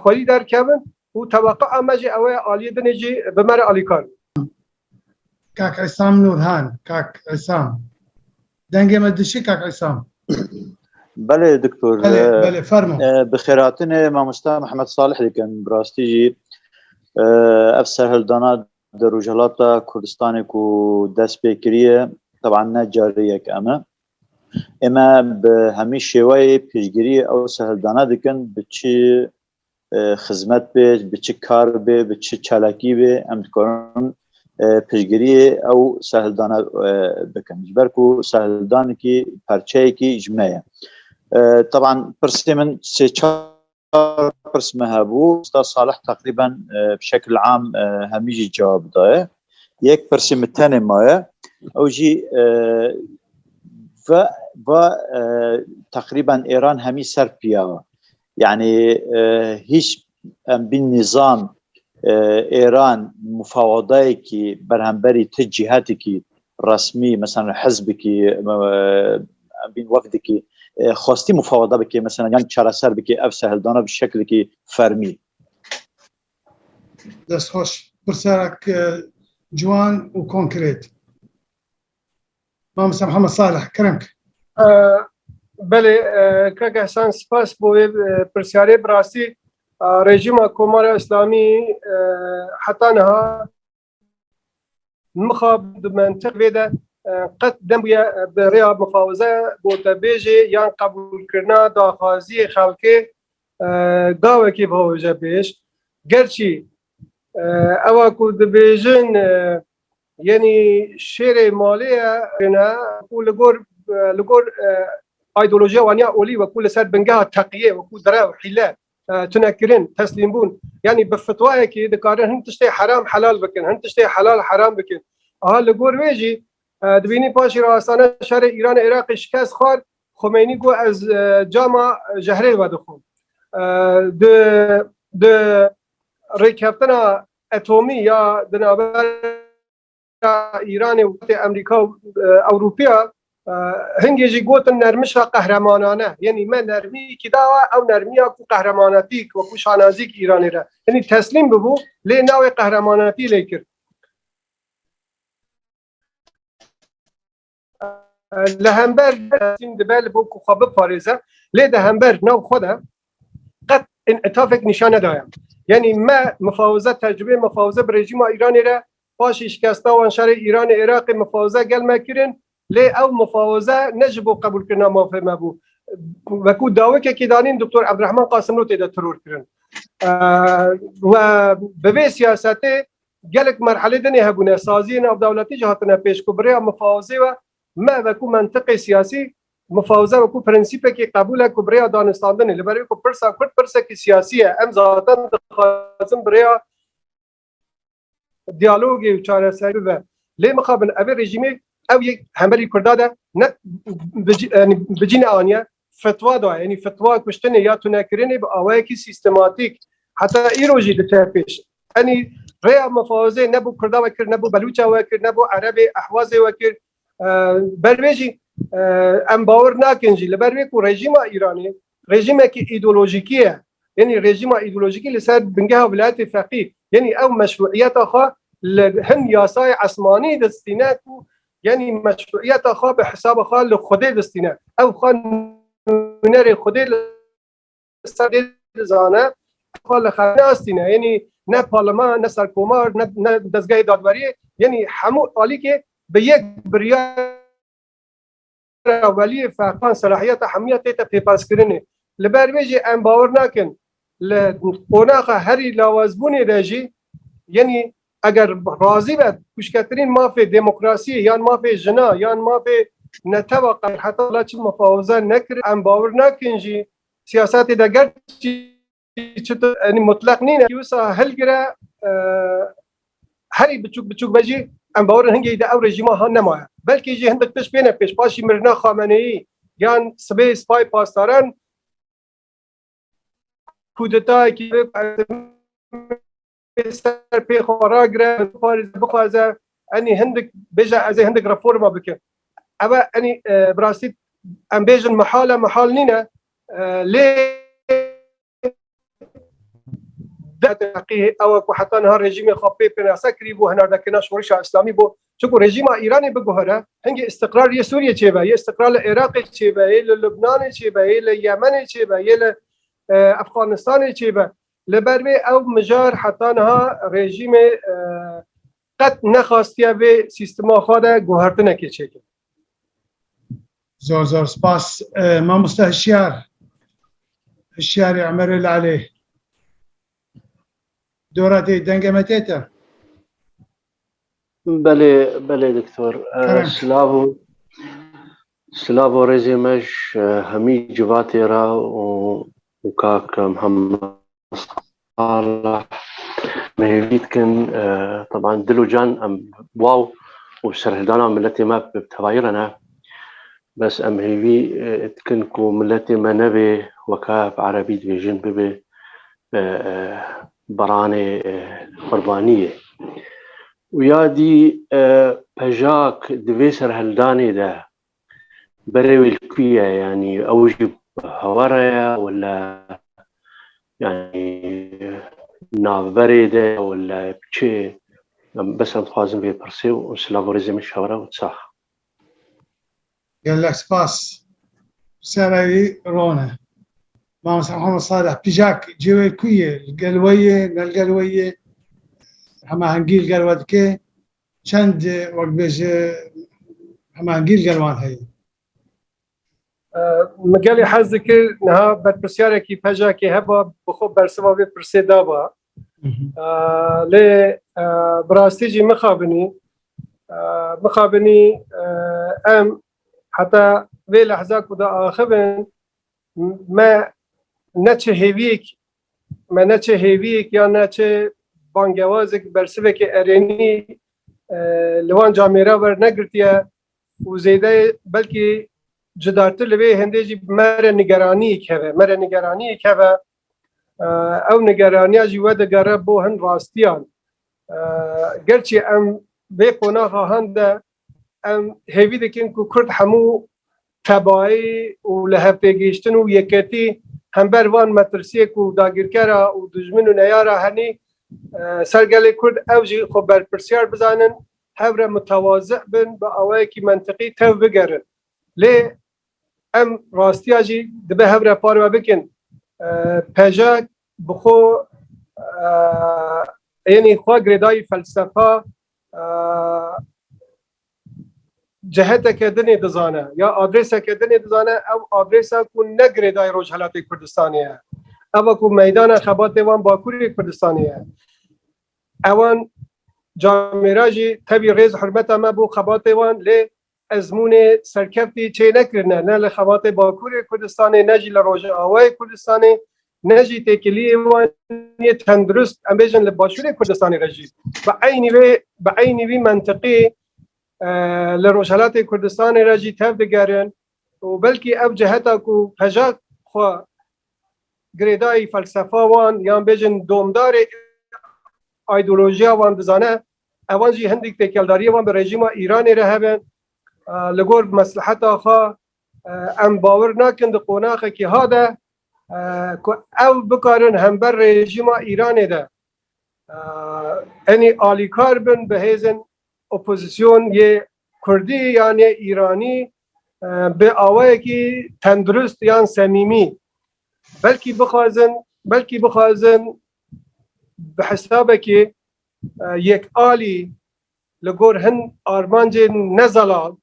xwerî derkevin û teweqea me jî ew e aliyê din ê jî bi me re alîkar bin. Kak Îsam Nûrhan, Kak Îsam. Dengê me dişî Kak Îsam. Belê diktor. Belê, belê fermo. Bi xêratinê mamosta Mihemed Salih dikin. Bi rastî jî ev serhildana Di Rojhilata Kurdistanê ku dest pê kiriye teban ne carî yek em e. Ême bi hemî şêweyê piştgiriyê ew sehildana dikin bi çi xizmet bê, bi çi kar bê, bi çi çalakî bê em dikarin piştgiriyê ew sehildana bikin. Ji ber ku sehildanekî perçeyekî ji me ye. Teban pirsê min sê çar çar pirs me hebû Usta Salih teqrîben bi şekil am hemî jî cevab daye yek pirsî min tenê maye ew jî ve va teqrîben Êran hemî ser piya yani hiç em bin nizam Êran mufawedayekî berhemberî ti cîhetekî resmî mesela hizbikî em bîn wefdikî xwestî mufawada bikê mesela yan çareser bikê ev sehildana bi şekilekî fermî. Dest xweş. Pirserek ciwan û konkrêt. Mamosta Mihemed Salih, keremk. Belê kak Ehsan spas bo vê pirsyarê bi rastî rejîma Komara Îslamî heta niha Mixabin di mentiq vê de qet nebûye bi rêya mifawize, gotebêjê yan qebûlkirina daxwaziyê xelkê gavekê biavêje pêş. Gerçî ewa ku dibêjin yenî şêrê malê ye ne ku li gor li gor îdeolojiya wan ya olî wekû li ser bingeha teqiyê wekû derew, hîle Tunekirin, teslîmbûn. Yanî bi fitwayekî dikarin hin tiştê heram helal bikin, hin tiştê helal heram bikin. Aha li gor wê jî dibînî paşî re astane şerê Îranê Iraqê şikest xwar, Xomeynî got ez cama jehrê vedixwim. Di di rêkeftina etomî ya di navber Îranê û wextê Amerîka û Ewropiya hingê jî gotin nermişa qehremanane yenî me nermîkî dawa ew nermiya ku qehremanetîk wekû şanazîk Îranê re yenî teslîm bibû lê navê qehremanetî lê kir. li hember Erasîm dibe li bo ku xwe biparêze lê di hember nav xwe de qet înîtafek nîşan nedaye. Yanî me mifawize tecrûbê mifawize bi rejîma Îranê re paşî şikesta wan şerê Îranê Iraqê mifawize gel me kirin lê ew mifawize ne ji bo qebûlkirina mafê me bû. Wekû dawikekê danîn Doktor Ebdirehman Qasimlo têde tiror kirin. We bi vê siyasetê Gelek merhelê din ê hebûne, saziyê navdewletî jî hatine pêş ku bi rêya mifawizê we me weku mentiqê siyasî mifawize weku prensîpekî qebûl e ku bi rêya danistandinê li ber wê ku pirsa kurd pirsekî siyasî ye em zaten dixwazin bi rêya diyalogê û çareserî bibe lê mixabin ev ê rejîmê ew yek hemberî kurda de ne bi cî ne aniye fetwa da, yanî fetwa kuştinê ya tunekirinê bi awayekî sîstematîk heta îro jî diçe pêş. Yanî rêya mufawizê ne bo kurda wekir, ne bo belûça wekir, ne bo erebê, ehwazê wekir. Ber wê jî em bawir nakin jî li ber wê ku rejîma Îranê rejîmekî îdeolojîkî ye. Yanî rejîma îdeolojîkî li ser bingeha vilayetê feqî. Yanî ew meşruîyeta xwe li hin yasayê esmanî distîne ku Yanî meşruîyeta xwe bi hisaba xwe li Xwedê distîne. Ew xwe nûnerê Xwedê li ser dê dizane. Ew xwe li xwe neastîne. Yanî ne parleman, ne serkomar, ne dezgehê dadweriyê, yanî hemû alîkê bi yek biryar. Navbera weliyê ferqan selahiyeta hemûyan tê te pêpaskirinê. Li ber vê jî em bawer nakin li qonaxa herî lawazbûnê de jî yenî eger razî be kuşketirîn mafê demokrasiyê yan mafê jina yan mafê netewa qer heta la çi mufawize nekirin em bawer nakin jî siyasetê de ger çitir yani mutlak nîne wisa hilgire herî biçûk biçûk be jî em bawerin hingê de ew rejîma han nemaye belkî jî hindik tiş pêne pêş paşî mirina xameneyî yan sibê spay pastaran kudetayekî ser pê xwe ragire bixwaze enî hindik bêje ez ê hindik reforma bikim. Ev e enî bi rastî em bêjin mihal e mihal nîne lê ewa ku heta niha rejîmê xwe pê pênase kirîbû hinardekirina şorişa îslamî bû. Çimkû rejîma Îranê biguhere hingê îstiqrar yê Sûriyê çêbe, yê îstiqrar li Iraqê çêbe, yê li Lubnanê çêbe, yê li Yemenê çêbe, yê li Efxanistanê çêbe. Li ber vê ew mijar heta niha rejîmê qet nexastiye vê sîstema xwe de guhertinekê çêke. Zor zor spas mamoste hişyar. Hişyarê Emerê Lalê. Dora tê denge me tête. Belê belê doktor. Silav û Silav û rêzê me ji hemî civatê re û kak Muhammed Saleh me hêvî dikin. Teban dil û can em waw û serhildana miletê me bi tevayî re ne. Bes em hêvî dikin ku miletê me nebê weke bi erebî dibêjin bibê baranê qurbaniyê. Uya dî pejak di vê serhildanê de berê wê li ku ye yanî ew jî hewara ye û li yanî navberê de ye û li çê bes em dixwazin vê pirsê û silav û rêzê min ji hev re û sax. Gelek spas. Sereyê rone. Mame Serhama Saleh pijak cêwê ku yê li gel we yê ne li gel we yê hemahengî li gel we dike çend wek bêje hemahengî li gel wan heye. Min gelê hez dikir niha berpirsyarekî pejakê heba bi xwe bersiva vê pirsê daba. Lê bi rastî jî mixabinî Mixabinî em heta vê lehza ku diaxivin me ne çi hêviyek me ne çi hêviyek ya ne çi bangewazek bersivekê erênî li wan camê re wernegirtiye û zêde belkî cidartir li vê hêndê jî me re nigeraniyek hebe me re nigeraniyek hebe ew nigeraniya jî wedigere bo hin rastiyan Gerçi em vê qonaxa hende em hêvî dikin ku Kurd hemû tebayî û li hevpêgihiştin û yeketî hember van metirsiyê ku dagîrkera û dijmin û neyara henî ser gelê Kurd ew jî xwe berpirsiyar bizanin, hev re mitewazi bin, bi awayekî mentiqî tev bigerin. Lê em rastiya jî dibe hev re parve bikin. Pejek Bi xwe ênî xwe girêdayî felsefa ciheteke dinê dizane ya adrêseke dinê dizane ew adrêsa ku ne girêdayî Rojhilatê Kurdistanê ye. Ev e ku meydana xebatê wan Bakurê Kurdistanê ye. Ewan camêra jî tevî rêz hurmeta me bo xebatê wan lê Ezmûnê serkeftî çênekirine ne li xebatê Bakurê Kurdistanê ne jî li Rojavayê Kurdistanê ne jî têkiliyê wan yê tendurist em bêjin li Başûrê Kurdistanê re jî bi eynî vê bi eynî vî mentiqî li Rojhelatê Kurdistanê re jî tev digerin û belkî ev ciheta ku pejak xwe girêdayî felsefa wan yan bêjin domdarê aydolojiya wan dizane Evan jî hindik têkeldariyê wan bi rejîma Îranê re hebe. Li gor mesleheta xwe em bawer nakin di qonaxekî ha de ku ew bikarin hember rejîma Îranê de enî alîkar bin bi hêzên opozîsyon yê Kurdî yan yê Îranî bi awayekî tendurist yan semîmî belkî bixwazin belkî bixwazin bi hesabekî Yek alî li gor hin armancên ne zelal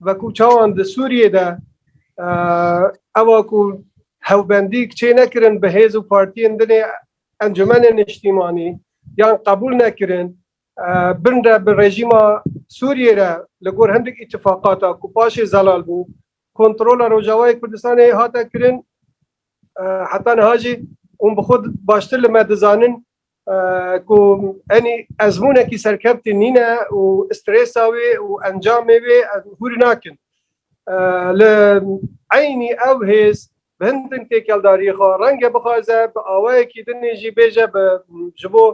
wekû çawan di Sûriyê de ewa ku hewbendîk çê nekirin bi hêz û partiyên dinê Encûmenê Niştîmanî yan qebûl nekirin bin re bi rejîma Sûriyê re li gor hindik îtîfaqata ku paşê zelal bû kontrola Rojavayê Kurdistanê hate kirin heta niha jî hûn bi xwe baştir li me dizanin ku enî ezmûnekî serkevtî nîne û strêsa wê û encamê wê em hûrî nakin. Li eynî ew hêz bi hindin têkeldariyê xwe renge bixwaze bi awayekî din jî bêje bi ji bo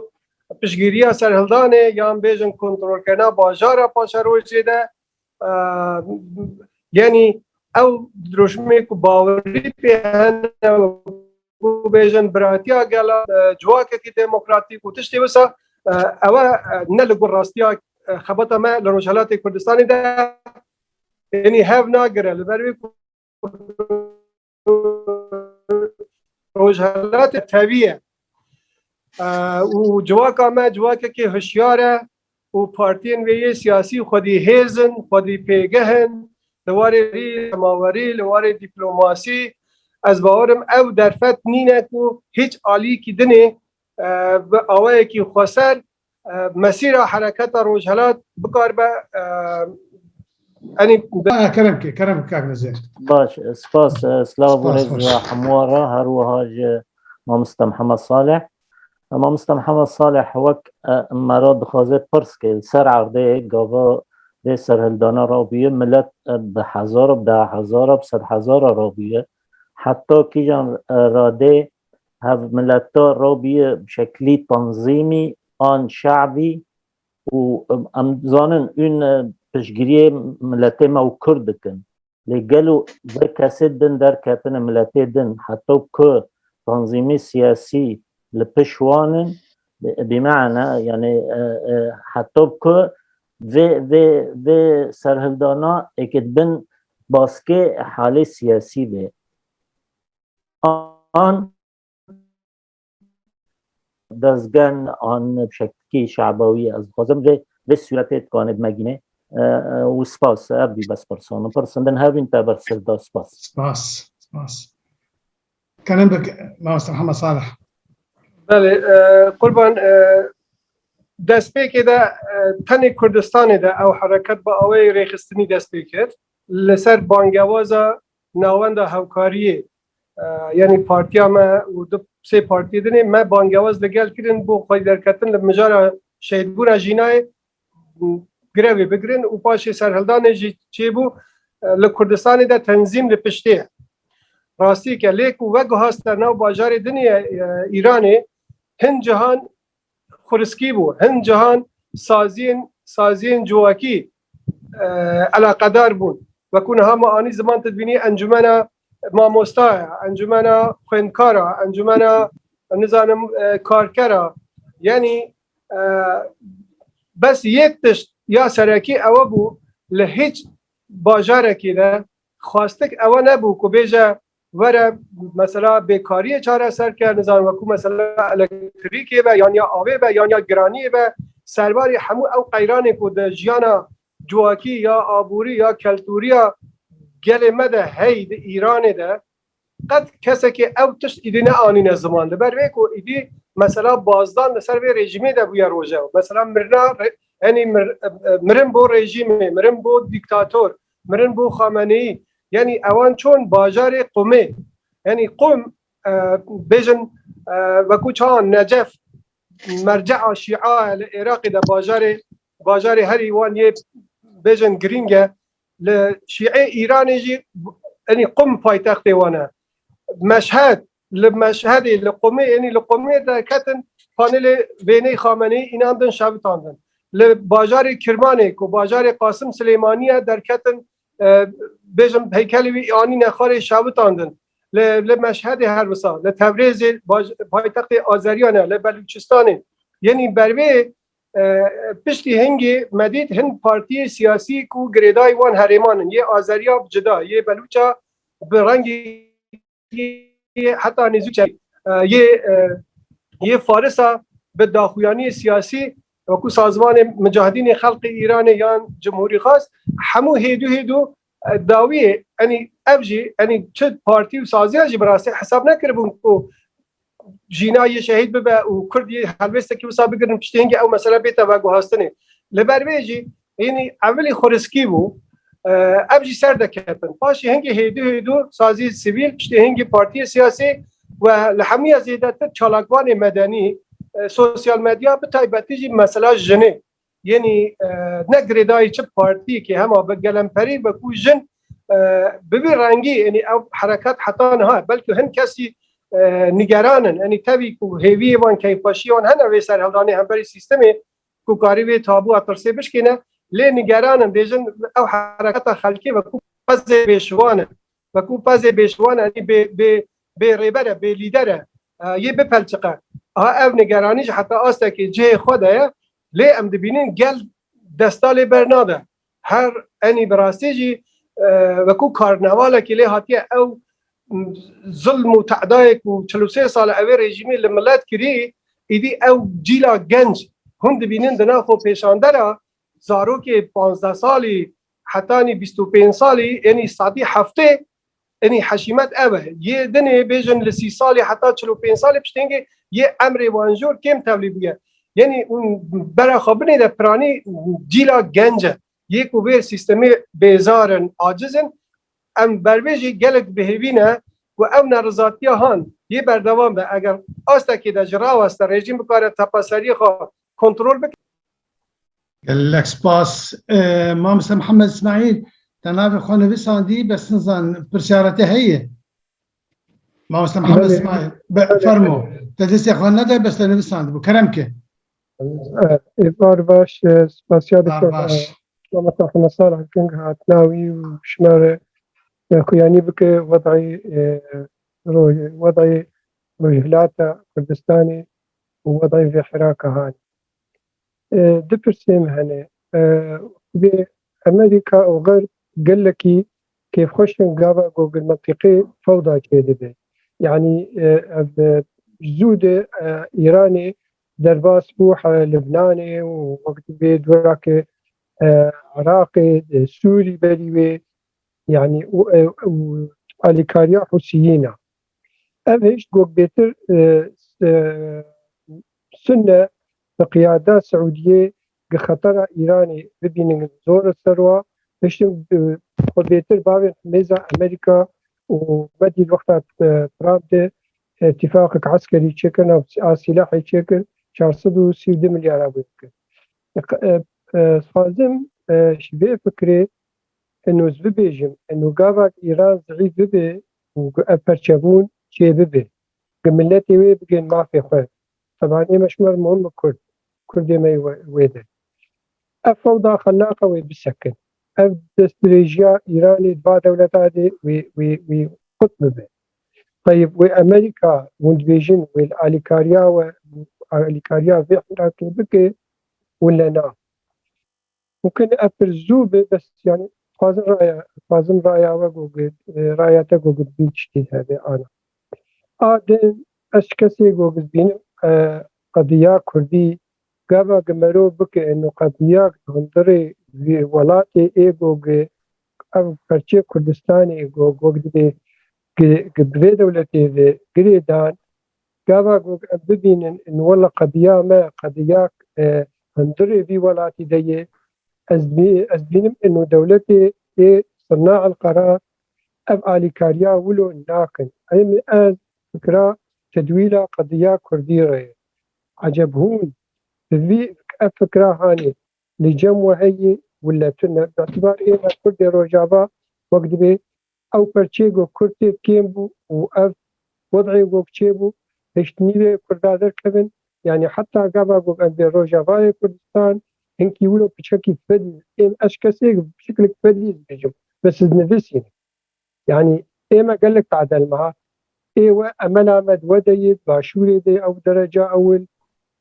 piştgîriya serhildanê yan bêjin kontrolkirina bajara paşerojê de Genî ew dirojmê ku bawerî pê hene ku bêjin biratiya gela civakekî demokratîk û tiştê wisa ew e ne li gor rastiya xebata me li Rojhelatê Kurdistanê de genî hev nagire li ber wê ku Rojhelatê tevî ye û civaka me civakekî hişyar e û partiyên wê yê siyasî xwedî hêz in, xwedî pêgeh in li warê rî cemawerî, li warê dîplomasî. Ez bawer im ew derfet nîne ku hîç alîyekî dinê bi awayekî xweser Mesîra hereketa rojhelat bikaribe enî Kerem kê, kerem kak nizê. Baş, spas, silav bû rêz hemûa re her wiha ji Mamista Mihemed Saleh. Mamista Mihemed Saleh wek me re dixwaze pirs ke li ser erdê gava dê serhildana re bûye milet bi hezar û bi da hezar û bi sed hezar re bûye heta kîjan re dê hev mileta robiye bi şeklî tanzîmî an şe'bî û em zanin ûn piştgiriyê miletê me û kurd dikin lê gelo vê kesê din derketine miletê din heta ku tanzîmî siyasî li piş wan in bîmana yanê heta ku vê vê vê serhildana êkê bin baskê halê siyasî bê an dezgen an şekî şabawî ez dixwazim vê vê sûretê dikwane bimegîne û spas ev bî bes pirsan min pirsin din hevîn te ber sir da spas spas spas karim bik master hema salih belê qurban destpêkê de tenê kurdistanê de ew hereket bi awayê rêxistinî dest pê kir li ser bangewaza Navenda hevkariyê yanî partiya me û du sê partiyê dinê me bangewaz li gel kirin bo xwedî derketin li mijara şehîdbûna jînayê grevê bigirin û paşê serhildanê jî çêbû li Kurdistanê de tenzîm li piştê ye. Rastiyek e lê ku veguhaste nav bajarê dinê ye Îranê hin cihan Xwiriskî bû. Hin cahan saziyên saziyên civakî eleqedar bûn. Weku niha ma anî ziman tu dibînî encumena mamosta ye, encumena xwendkar e, encumena nizanim karker e. Yanî bes yek tişt ya serekî ewe bû li hîç bajarekî de xwastik ewe nebû ku bêje were mesela bêkariyê çareser ke nizan weku mesela elektrîkê be yaniya avê be yaniya giraniyê be serbarî hemû ew qeyranê ku di jiyana civakî ya aborî ya keltûriya gelê me de hey di Îranê de qet kesekê ew tişt îdî neanîne ziman li ber vê ku îdî mesela bazdan li ser vê rejîmê de bûye rojew mesela mirina henî mirin bo rejîmê mirin bo dîktator Mirin bo Xameneî yanî ewan çûn bajarê Qumê. Yanî Qum bêjin wekû çawa Necef merce'a şî'a ye li Êraqê de bajarê bajarê herî wan yê bêjin girîng e. Li şî'ê Îranê jî yanî Qum paytextê wan e. Meşhed Li Meşhedê, li Qumê ênî li Qumê derketin panelê Wêney Xameneyî înan din şevitandin. Li bajarê Kirmanê ku bajarê Qasim Silêmanî ye derketin bêjim heykelê wî anîne xwarê şevitandin. Li li Meşhedê her wisa, li Tewrêzê paytextê Azeriyan e, li Belûçistanê yenî ber vê piştî hingê Medîd hin partiyê siyasî ku girêdayî wan herêman in yê Azeriya bi cida, yê Belûça bi rengî heta nêzî çek yê yê farisa bi daxuyaniyê siyasî wekû sazvanê micahidînê xelqê Îranê yan cumhurî xas hemû hêdû hêdû dawiyê enî ev jî enî çi partî û saziya jî bi rastî hesab nekiribûn ku jîna yê şehîd bibe û kurd yê helwêstekî wisa bigirin piştî hingê ew mesele bête veguhastinê. Li ber vê jî hînî evilî xweriskî bû ev jî ser deketin. Paşê hingê hêdû hêdû sazî sivîl piştî hingê partiyê siyasî و li hemû ya zêdetir çalakvanê medenî sosyal medya bi taybetî jî mesela jinê Yenî ne girêdayî çi partîyekê hema bi gelemperî be ku jin bi vî rengî yenî ew herekat heta niha belkî hin kesî nigeran in yenî tevî ku hêvîyê wan keyfxweşîyê wan hene wê serhildanê hemberî sîstemê ku karî vê tabûa tirsê bişkîne lê nigeran in bêjin ew hereketa xelkê be ku pezê bêşivan in be ku pezê bêşivan e bê bê bê rêber e bê lîder e Yê bipelçiqe. A ev nigeranî ji heta astekî cihê xwe de ye lê em dibînin gel desta lê bernade. Her enî bi rastî jî wekû karnavalekî lê hatiye ew zilm û tedayê ku çil û sê sal e wê rejîmî li milet kirî îdî ew cîla genc hûn dibînin di nav xwe pêşande re zarokê panzdeh salî hetanî bîst û pênc salî enî sedî heftê Tenê heşîmet ev e, yê dinê bêjin li sî salê heta çil û pênc salê piştengê yê emrê wan jor kêm tevlî bûye. Yenî hûn bera xwe binê de piranî cîla genc e. Yê ku vê sîstemê bêzar in, aciz in, em berbêjî gelek dibihêvîne ku ev nerizatiya han yê berdewam be. Eger astekê de ji raweste rejîm bikare tepeseriyê xwe kontrol bike. Gelek spas Mamoste Mihemed Îsmaîl te navê xwe nivisandî bes nizan pirsyara te heye Mamoste Mihemed Îsmaîl fermo te destê xwe nede bes te nivisandibû kerem ke Êvar baş spasiya diktor Mamoste Mihemed Salih King hatina wî û şima re xuyanî bike wedayê wedayê Rojhilata Kurdistanê û wedayê vê Hêraka hanê. Du pirsên hene. Xwedê Amerîka û Xerb gelekî kêfxweşin gava ku gel mentiqê fewda çêdibe. Yanî ev zû de Îranê derbas bû Libnanê û wek dibê dorake Iraqê, Sûrî berî wê yanî û alîkariya Hûsiyîn e. Ev hêşt gokbêtir sune bi qiyada Siûdiyê gi xetera Îranê bibînin zor e ser wa hiştin xwe bêtir bavên himêza Amerîka û me dît wexta Trump de tîfaqek eskerî çêkir nav a sîlahê çêkir çar sed û sî û du milyar a wê bikir. Sazim ji vê fikirê eno ez bibêjim eno gavak Îran zîîf bibe û ku ev perçebûn çê bibe, ku miletê wê bigên mafê xwe, teban ême ji mer muhim in kurd, kurdê me yê wê de ev fewda xelaqa wê bisekin, ev destdirêjiya Îranê di va dewleta de wê qut bibe. Teyb wê Amerîka windbêjin wê li alîkariya we û alîkariya vê Îrakê bike û lena. û kin ev pir zû bê bes yanî dixwazin raya dixwazin raya we gogit raya te gogit bîn tiştê hebe ana a din ez kesê gogit bînim qediya kurdî gava gi merov bike êno qediya hundirê vî welatê ê gogi ev perçê Kurdistanê gogit bê gi gi bi vê dewletê ve girê dan Gava ku ev bibînin in wela qediya me qediya hundirê vî welatî de yê. Ez ez bînim in û dewletê ê Sirna Elqerar ev alîkariya wilo nakin. Hemî ez fikira tedwîla qediya kurdî re ye. Eceb hûn bi vî ev fikira hanê li cem we heye wile tune. Bi îtibar ême kurdê Rojava wek dibê. Ew perçê gog kurtê kêm bû û ev wud'ê gog çêbû, hişt nîvê kurda derkevin, yanî heta gava gog em bê rojavayê Kurdistan, hinkî wilo piçekî fedîl êm ez kesêk bi şiklik fedîl dibîjim ve siz nivisîne. Yanî ê me gelek tadel ma, ê we emela me di we de yê, di başûrê de yê ew dereca ewil,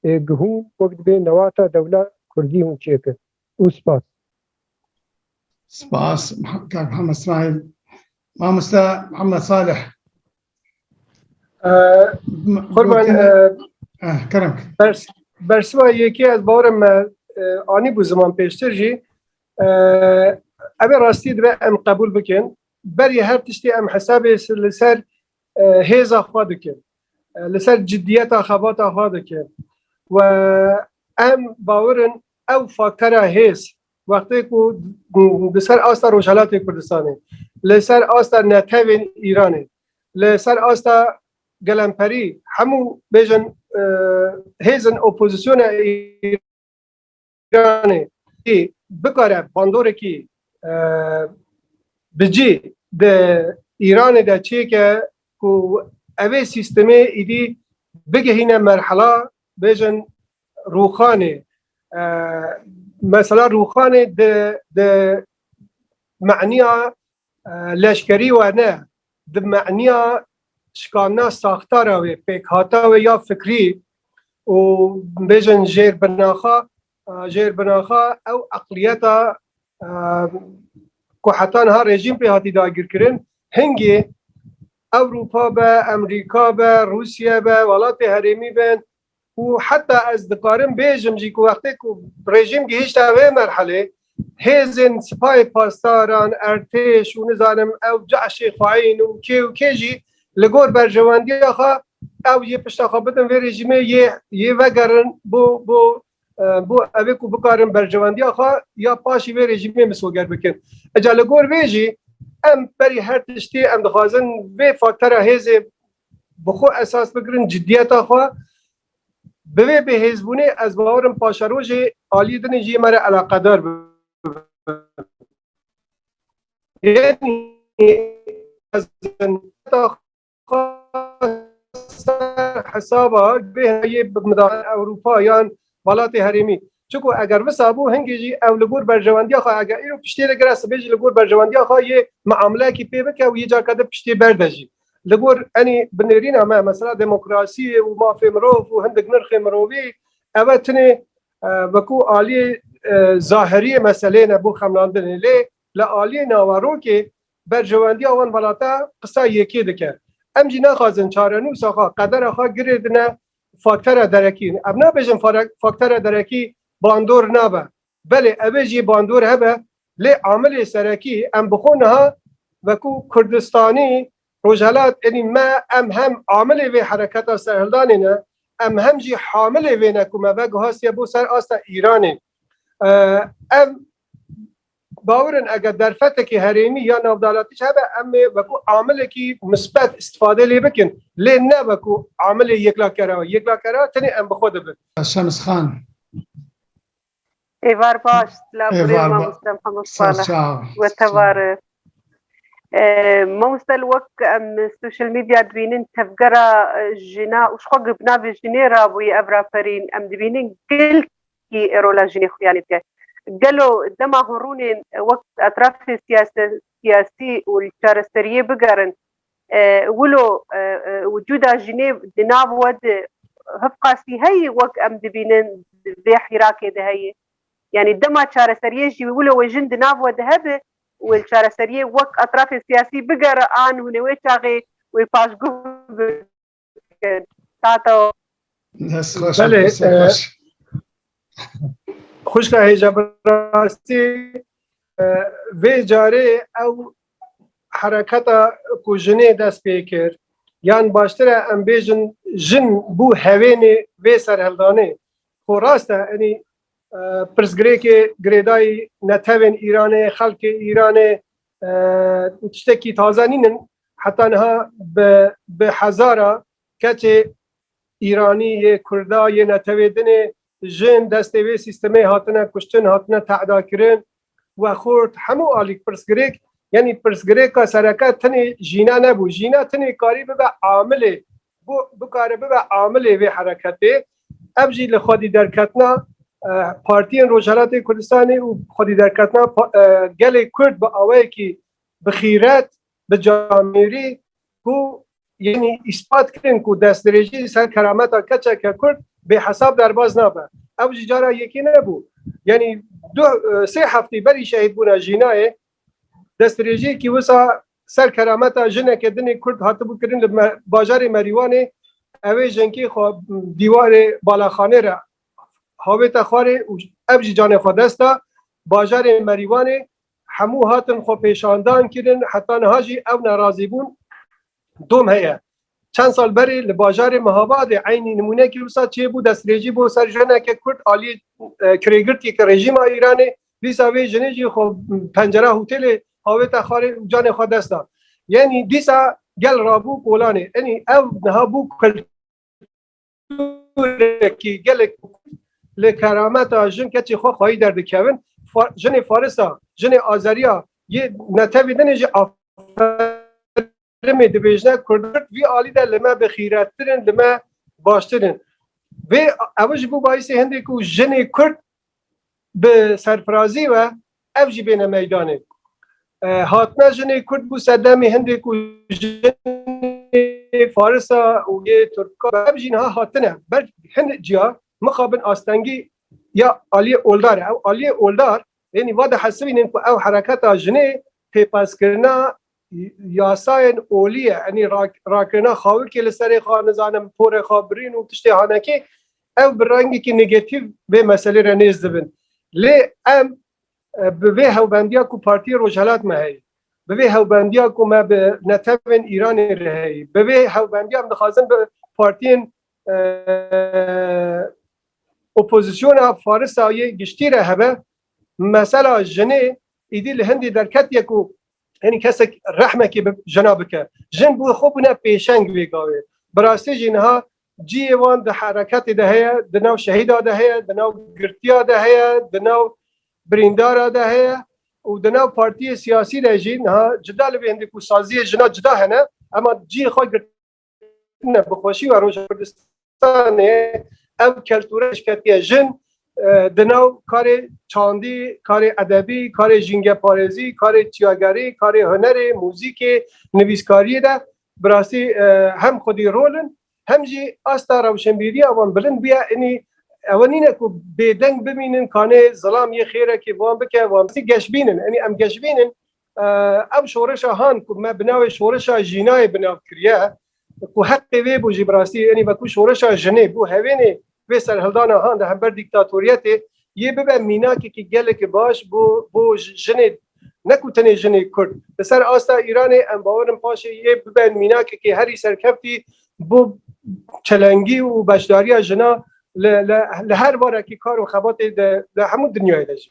ê gihûn wek dibê newata dewla kurdî hûn çêkin. û spas. Spas Kak Mihemed Smaîl. Mamoste Mihemed Salih. Qurban Kerem. Bersiva yekê ez bawerim me anî bû ziman pêştir jî evê rastî dibe em qebûl bikin berî her tiştê em hesabê li ser hêza xwe dikin li ser ciddiyeta xebata xwe dikin we em bawerin Ew faktera hêz wextê ku li ser asta Rojhelatê Kurdistanê, li ser asta netewên Îranê, li ser asta gelemperî hemû bêjin hêzin opozîsyona Îranê jî bikare bandorekî bi cî di Îranê de çêke ku evê sîstemê êdî bigihîne merhela Bêjin Rûxanê. Mesela Rûxanê di di maniya leşkerî we ne, di maniya şikandina saxtara wê, pêkhata wê ya fikrî û bêjin jêr binaxa jêr binaxa ew eqliyeta ku heta niha rejîm pê hatî dagirkirin hingê Ewropa be, Emrîka be, Rûsye be, welatê herêmî bên û heta ez dikarim bêjim jî ku wextê ku rejîm gihîşte vê merhelê hêzên sipayê pasdaran, ertêş û nizanim ew caşê xweîn û kê û kê jî li gor berjewendiya xwe ew yê pişta xwe bidin vê rejîmê yê yê vegerin bo bo Bo ev ê ku bikarin berjewendiya xwe ya paşî vê rejîmê misoger bikin. Eca li gor vê jî em berî her tiştê em dixwazin vê faktera hêzê bi xwe esas bigirin ciddiyeta xwe bi vê bêhêzbûnê ez bawer im paşerojê aliyê din jî me re eleqedar bibin. ser hesaba bêhayê bimdar Ewropa yan welatê herêmî. Çiko eger visa bû hingê jî ew li gor berjewendiya xwe eger îro piştê de gire sibê jî li gor berjewendiya xwe yê miamlekî pê bike û yê carka de piştê berde jî. Li gor enî binêrîna me mesela demokrasiyê û mafê mirov û hindik nirxê mirovî ev e tinê wekû aliyê zahiriyê meseleyê ne bo xemlandinê lê li aliyê naverokê Berjewendiya wan velate qisa yekê dike. Em jî naxwazin çarenûsa xwe, qedera xwe girê dine faktera derekî. Ev nabêjin faktera derekî bandor nabe. Belê ev ê jî bandor hebe lê amilê serekî em bi xwe niha wekû Kurdistanî, Rojhelat êdî me em hem amilê vê hereketa serhildanê ne, em hem jî hamilê vê ne ku me veguhastiye bo ser asta Îranê. Ev Bawer in eger derfetekî herêmî ya navdalatî jî hebe em ê wekû amilekî misbet îstîfade lê bikin lê ne wekû amilê yekla-kera. Yekla-kera tenê em bi xwe de bin. Şems Xan. Êvar baş, laborê mamoste Mihemed Salih we tevare. Mamoste li wek em social media dibînin tevgera jina û ji xwe bi navê jinê rabûyî ev raperîn em dibînin gil Kî rola jinê xuya lê dike? Gelo dema horûnên wek etrafê siyasî û li çareseriyê bigerin wilo wicûda jinê di nav we de hiv qasî heye wek em dibînin di vê hîrakê de heye? Yanî dema çareseriyê jî wilo wê jin di nav we de hebe û wê li çareseriyê wek etrafê siyasî bigere an hûn ê wê çaxê wê paşguh bikin? Tato. Dest xweş. Belê. Xuşka hêja bi rastî vê carê ew hereketa ku jinê dest pê kir yan baştir e em bêjin jin bû hevênê vê serheldanê xo rast e enî pirsgirêkê girêdayî netevên Îranê xelkê Îranê Ew tiştekî taze nîn in. Heta niha bi bi hezara keçê Îranî yê Kurda yê netewê din ê jin destê vê sîstemê hatine kuştin, hatine te'dakirin. Wexurt hemû alîk pirsgirêk, yanî pirsgirêka sereke tenê jîna nebû. Jîna tenê karî bibe amilê Ku bikare bibe amilê vê hereketê. Ev jî li xwedîderketina partiyên Rojhilatê Kurdistanê û xwedîderketina gelê Kurd bi awayekî bi xîret, bi camêrî ku yanî îspat kirin ku destdirêjî li ser kerameta keçeke Kurd bêhesab derbas nabe. Ew jî cara yekê nebû. Yanî du sê hefteyî berî şehîdbûna Jînayê Destrêjêkî wisa ser kerameta jineke dinê Kurd hatibû kirin li bajarê Merîwanê ew ê jinkê xwe dîwarê balaxanê re havêta xwarê û ev jî canê xwe dest da. Bajarê Merîwanê hemû hatin xwepêşandan kirin heta niha jî ew nerazî bûn Dom heye. Çend sal berê li bajarê Mihabadê eynî nimûnekî wisa çêbû destrêjî bo ser jineke Kurd aliyê kirêgirtiyeke rejîma Îranê dîsa vê jinê jî xwe pencera hotêlê avêta xwarê û canê xwe dest da. Yenî dîsa gel rabû kolanê. Enî ew niha bû dûrekî gelek li kerameta jin keçê xwe xwayî derdikevin jinê farisa jinê azeriya yê netevî din jî aferimê dibêjne kurd vî alî de li me bi xîrettirin li me baştirin vê ew ji bo bayîsê hindê ku jinê kurd Bi serfirazî ve ev jî bêne meydanê. Hatine jinê Kurd bû sedemê hindê ku jinê farisa û yê turka ev jî niha hatine ber hin ciya mixabin astengî ya Aliyê Oldar e. Ew Aliyê Oldar ênî va dihesibînin ku ew hereketa jinê pêpezkirina Yasayên olî ye enî rakirina xawikê li serê xwe nizanim porê xwe birîn û tiştê hanekê ew bi rengekî negetîv vê meselê re nêz dibin. Lê em bi vê hewbendiya ku Partiyê Rojhilat me heye, bi vê hewbendiya ku me bi netewên Îranê re heye, bi vê hewbendiya em dixwazin bi partiyên opozisyona Farisa yê giştî re hebe, mesela jinê êdî li Hindê derketiye ku Henî kesek rehmekê bi jina bike. Jin bû xwe bûne pêşeng vê gavê. Bi rastî jî niha ciyê wan di hereketê de heye, di nav şehîda de heye, di nav girtiya de heye, di nav birîndara de heye û di nav partiyê siyasî de jî niha cida li vê hindî ku saziyê jina cida hene ema ciyê xwe girtiye. ne bi xweşî we roja Kurdistanê ev keltûre eşketiye jin di nav karê çandî, karê edebî, karê jîngeparêzî, karê çiyagerî, karê hunerê, muzîkê, nivîskariyê de bi rastî hem xwedî rol in hem jî asta rewşenbîriya wan bilind bûye inî ew nîne ku bêdeng bimînin kanê zilam yê xêrekê wan bike wan bî geşbînin inî em geşbînin Ev şoreşa han ku me bi navê şoreşa jînayê bi nav kiriye ku heqê wê bû jî bi rastî enî veku şoreşa jinê bû hevênê vê serhildana han di hember dîktatoriyetê yê bibe mînakekî gelekî baş bo bo jinê ne ku tenê jinê kurd li ser asta Îranê em bawer in paşê yê bibe mînakekî herî serkeftî bo çelengî û beşdariya jina li li li her varekî kar û xebatê de li hemû dinyayê de jî.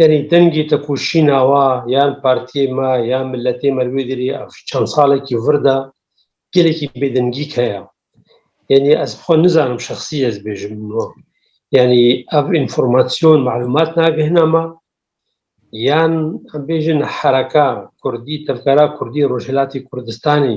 Yanî dengê tekoşîna wa yan partiyê me yan miletê me li wê derê ev çend salekî vir de gelekî bêdengîk heye. Yanî ez bi xwe nizanim şexsî ez bêjim wan. Yanî ev înformasyon malûmat nagihîne me yan em bêjin hereka kurdî tevgera kurdî Rojhilatê Kurdistanê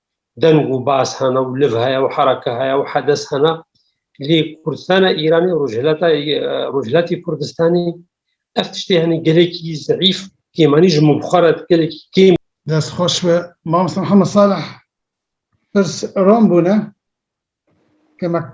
deng û baz hene û liv heye û hereke heye û hedes hene. Lê Kurdistana Îranê û Rojhilata Rojhilatê Kurdistanê ev tiştê henî gelekî zeîf kêmanî ji min bi xwe re gelekî kêm. Dest xweş be mamosta Mihemed Salih pirs rom bûne kemek.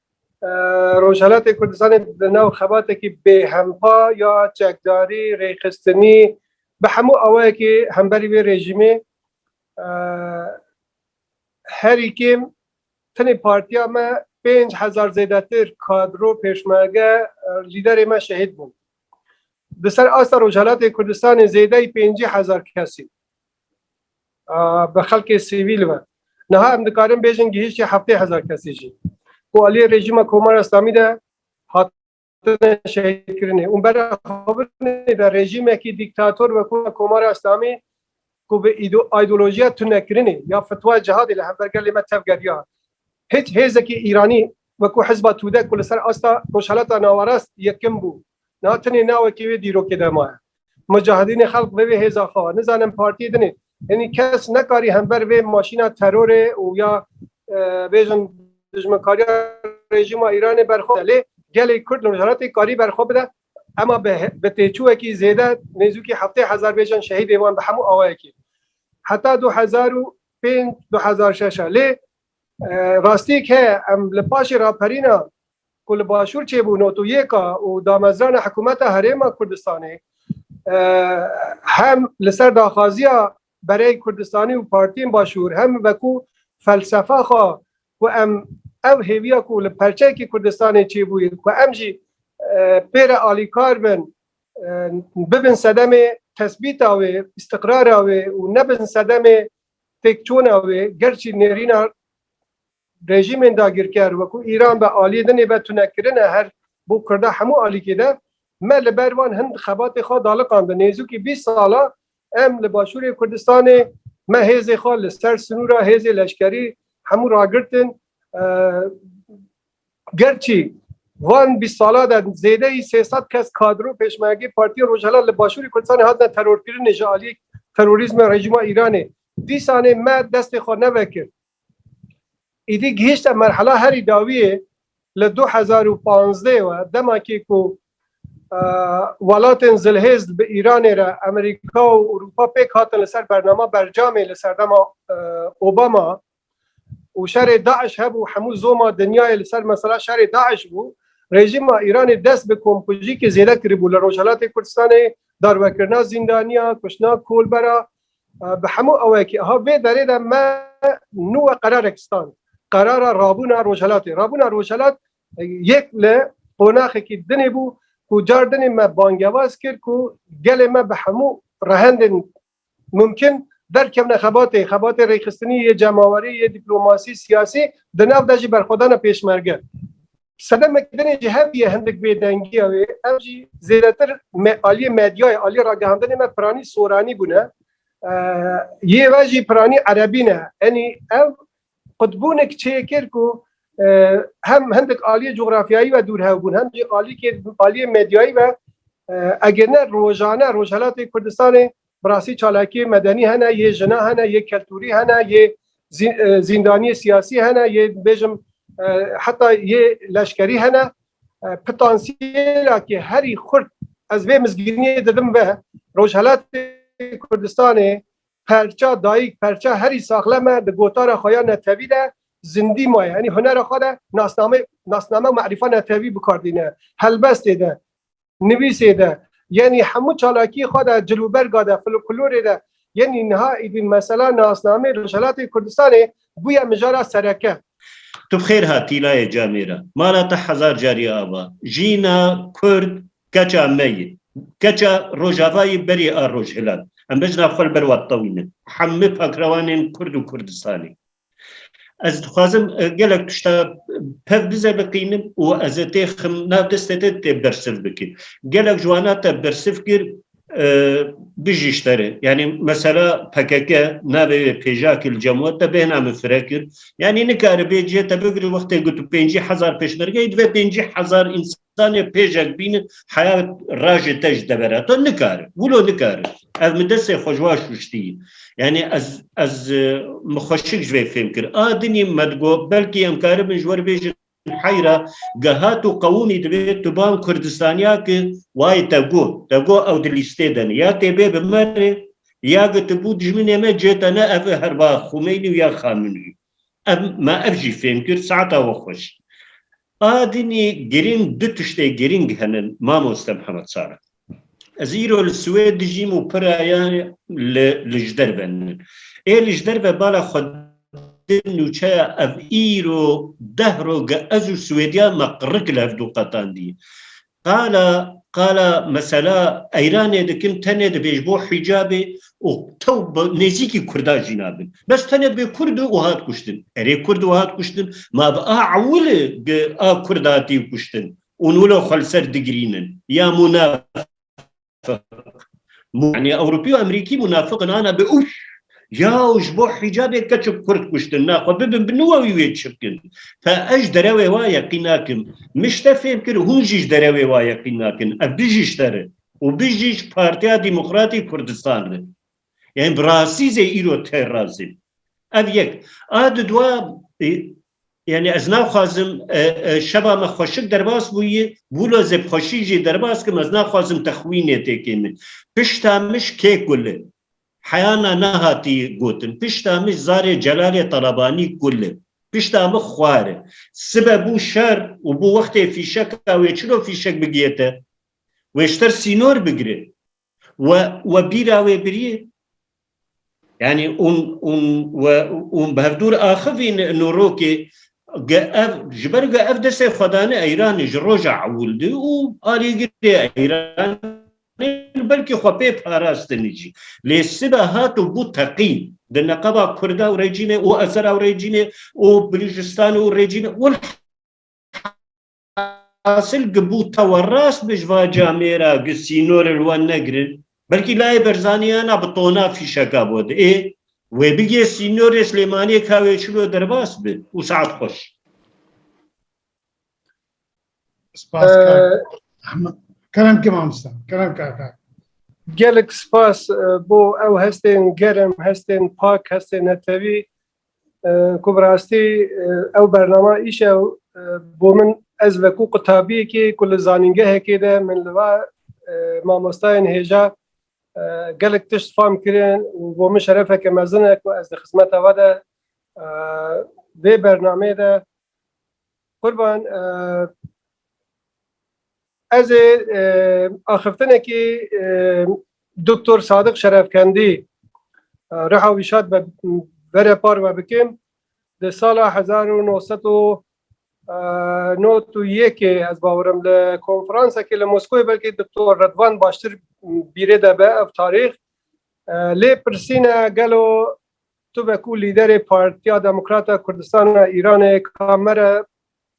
Rojhilatê Kurdistanê di nav xebatekî bêhempa ya çekdarî, rêxistinî bi hemû awayekî hemberî vê rejîmê herî kêm tenê partiya me pênc hezar zêdetir kadro pêşmerge lîderê me şehîd bûn. Di ser asta Rojhilatê Kurdistanê zêdeyî pêncî hezar kesî bi xelkê sivîl ve. Niha em dikarin bêjin gihîştî heftê hezar kesî jî ku aliyê rejîma Komara Îslamî de hatine şehîdkirinê û bere xwe binê de rejîmekî dîktator wekû Komara Îslamî ku bi îdeolojiya tunekirinê ya fitwa cihadê li hember gelê me tevgeriya. Hiç hêzekî Îranî wekû hizba Tûde ku li ser asta Rojhilata Nawarast yekim bû, Niha tenê navekê wê dîrokê de maye. Mucahidînê xelq vevê hêza xwe ve. Nizanim partiyê din ê. Yanî kes nekarî hember vê maşîna terorê û ya bêjin dijminkariya rejîma Îranê berxwe bide. Lê gelê Kurd li Rojhilatê karî berxwe bide. Ema bi têçûwekî zêde nêzûkî heftê hezar bêjin şehîdê wan bi hemû awayekî. Heta du hezar û pênc du hezar şeş e. Lê rastiyek heye em li paşê raperîna ku li başûr çêbû notûyêka û damezrana hikûmeta Herêma Kurdistanê hem li ser daxwaziya bereyên Kurdistanî û partiyên başûr hem wekû felsefa xwe ku em ev hêviya ku li perçeyekî Kurdistanê çêbûye ku em jî pê re alîkar bin bibin sedemê tesbîta wê, îstiqrara wê û nebin sedemê têkçûna wê, gerçî nêrîna Rejîmên dagirker wekû Îran be aliyê din ê be tunekirin e her bo kurda hemû alîkê de. Me li ber wan hin xebatê xwe daliqandin. Nêzûkî bîst sal e em li başûrê Kurdistanê me hêzê xwe li ser sinûra hêzê leşkerî hemû ragirtin. Gerçî van bîst sala de zêdeyî sê sed kes kadir û pêşmergeyê Partiyên Rojhilat li başûrê Kurdistanê hatine terorkirinê ji aliyê terorîzma rejîma Îranê. Dîsanê me destê xwe nevekir. Êdî gihîşte merhela herî dawî yê li du hezar û panzdeh we demakê ku welatên zilhêzd bi Îranê re Amerîka û Ewropa pêk hatin li ser bernama bercamê li serdema Obama û şerê DAIŞ hebû hemû zoma dinyayê li ser mesela şerê DAIŞ bû rejîma Îranê dest bi komkujîkê zêde kiribû li Rojhelatê Kurdistanê darwekirina zîndaniyan, kuştina kolbera Bi hemû awayekî aha vê derê de me nûwe qerarek stand. Qerara rabûna Rojhelatê. Rabûna Rojhelat yek li qonaxekî din ê bû ku car din ê me bangewaz kir ku gelê me bi hemû rehendên mumkin derkevne xebatê, xebatê rêxistinî yê cemawerî, yê dîplomasî, siyasî di nav de jî berxwedana pêşmerge. Sedemek din ê jî hevdiye hindik bêdengiya wê, ev jî zêdetir aliyê medyayê, aliyê ragihandinê me piranî soranî bûne. Yê ve jî piranî erebî ne. Enî ev qutbûnek çê kir ku hem hindik aliyê cografyayî ve dûr hev bûn, hem jî aliyê medyayî ve eger ne rojane Rojhelatê Kurdistanê Bi rastî çalakiyê medenî hene, yê jina hene, yê keltûrî hene, yê zîndaniyê siyasî hene, yê bêjim heta yê leşkerî hene. Pitansiyêla ke herî xurt ez vê mizgîniyê didim ve, Rojhelatê Kurdistanê perça dayîk, perça herî saxlem e, di gotara xwe ya netewî de zindî maye. Yanî hunera xwe de nasname û merîfa netewî bikar dîne. Helbestê de Nivîsê de yenî hemû çalakiyê xwe de cilûberga de folklorê de yenî niha êdî mesela nasnameyê Rojhelatê Kurdistanê bûye mijara sereke. Tu bi xêr hat Tîlayê Camêra. Mala te hezar carî ava. Jîna Kurd keça me yê. Keça Rojava yê berî a Rojhilat. Em bejna xwe li ber we tewînin. Hemû pakrewanên Kurd û Kurdistanê. Ez dixwazim gelek tişta pev bize biqînim û ez ê tê xim nav destê te tê bersiv bikî. Gelek ji wana te bersiv kir bijî ji te re. Yanî mesela PKK navê wê pêjakî li Cemwet de bêhna min fire kir. Yanî nikaribê cihê te bigirî wextê got tu pêncî hezar pêşmergeyî divê pêncî hezar însan Zanê pêjek bîni heya rajê te ji devera to nikari. Wilo nikari. Ev mi destê xwe ji wa şuştî. Yani ez ez mi xweşik ji vê fêm kir. A dinî me digo belkî em karibin ji we re bêjin heyra gehat û qewûnî divê tu ban Kurdistaniya ki wayê te go. Te go ew di lîstê de ne. Ya têbê bi me re ya gotibû dijminê me cê te ne ev e herba Xumeyni û ya Xaminî. Ev ma ev jî fêm kir saeta we xweş. A dinî girîng du tiştê girîng hene mamoste Mihemed Sara. Ez îro li Swêd dijîm û piraya li li ji derve nin. Ê li ji derve bala xwe di nûçeya ev îro deh roge ez û Swêdiya me qirrik li hev du qetandî. Qala qala mesela Eyranê dikim tenê dibêj bo hicabê û tew bi nêzîkî kurdan jî nabin. Bes tenê dibê kurd û hat kuştin. Erê kurd û hat kuştin ma bi a ewili gi a kurd hatî kuştin û nûlo xwe li ser digirînin ya mûnafik. Munafık. Yani Avrupi û Amerîkî munafık in ana bi ûf yaw ji bo hicabê keçik kurd kuştin na xwe bibin bi niwe wî wê çikin. Fe ez ji derewê wa yeqîn nakim. Min ji te fêm kir hûn jî ji derewê wa yeqîn nakin. Ev bijiş te re û bijiş Partiya Demokratê Kurdistan re. Yên bi rastî zê îro têr razê. Ev yek. A di dua Yani ez naxwazim e, e, şeba me xweşik derbas bûyî wilo zê bi xweşî jî derbas kim ez naxwazim te xwînê têkê min pişta mij kê kulli heyana nehatî gotin pişta mij zarê celalê talabanî kulli pişta min xwar e sibe bû şer û bû wextê fîşeka wê çilo fîşek bigiyete wê ji ter sînor bigire We we bîra wê birî yani un un we un berdûr axivîn nûrokê ge ev ji ber ge ev destê xwedane Eyranê ji roja ewildî û alîgirê Eyran belkî xwe pê parastinî jî lê sibe hat û bû teqîn di neqeba Kurda û rejîmê û Ezera û rejîmê û Bilûcîstanê û rejîmê hasil ki bû tewa rast bi ji va camê ra ki sînorê li wan negirin, belkî layê Berzanî hena bi tona fîşeka bo de. Ê wê bigê sînorê Silêmaniyê ka wê şilo derbas bi û saet xweş. Spas kak. Kerem ki mamosta. Kerem kaka. Gelek spas bo ew hestên germ, hestên pak, hestên netewî. Ku bi rastî ew bernama îş e û bo min ez wekû qutabiyekê ku li zanîngehekê de min li va mamostayên hêja gelek tişt fam kirin û bo min şerefeke mezin e ku ez di xizmeta we de vê bernameyê de Qurban, Ez ê axiftinekî Doktor Sadiq Şerefkendî riha wî şad be bere par we bikim. Di sala hezar û no sed û nod û yekê ez bawerim li konferansekê li Moskowê belkî Doktor Redwan baştir bîrê de be ev tarîx. Lê pirsîne gelo Tu be ku lîderê Partiya Demokrat a Kurdistan a Îranê kamere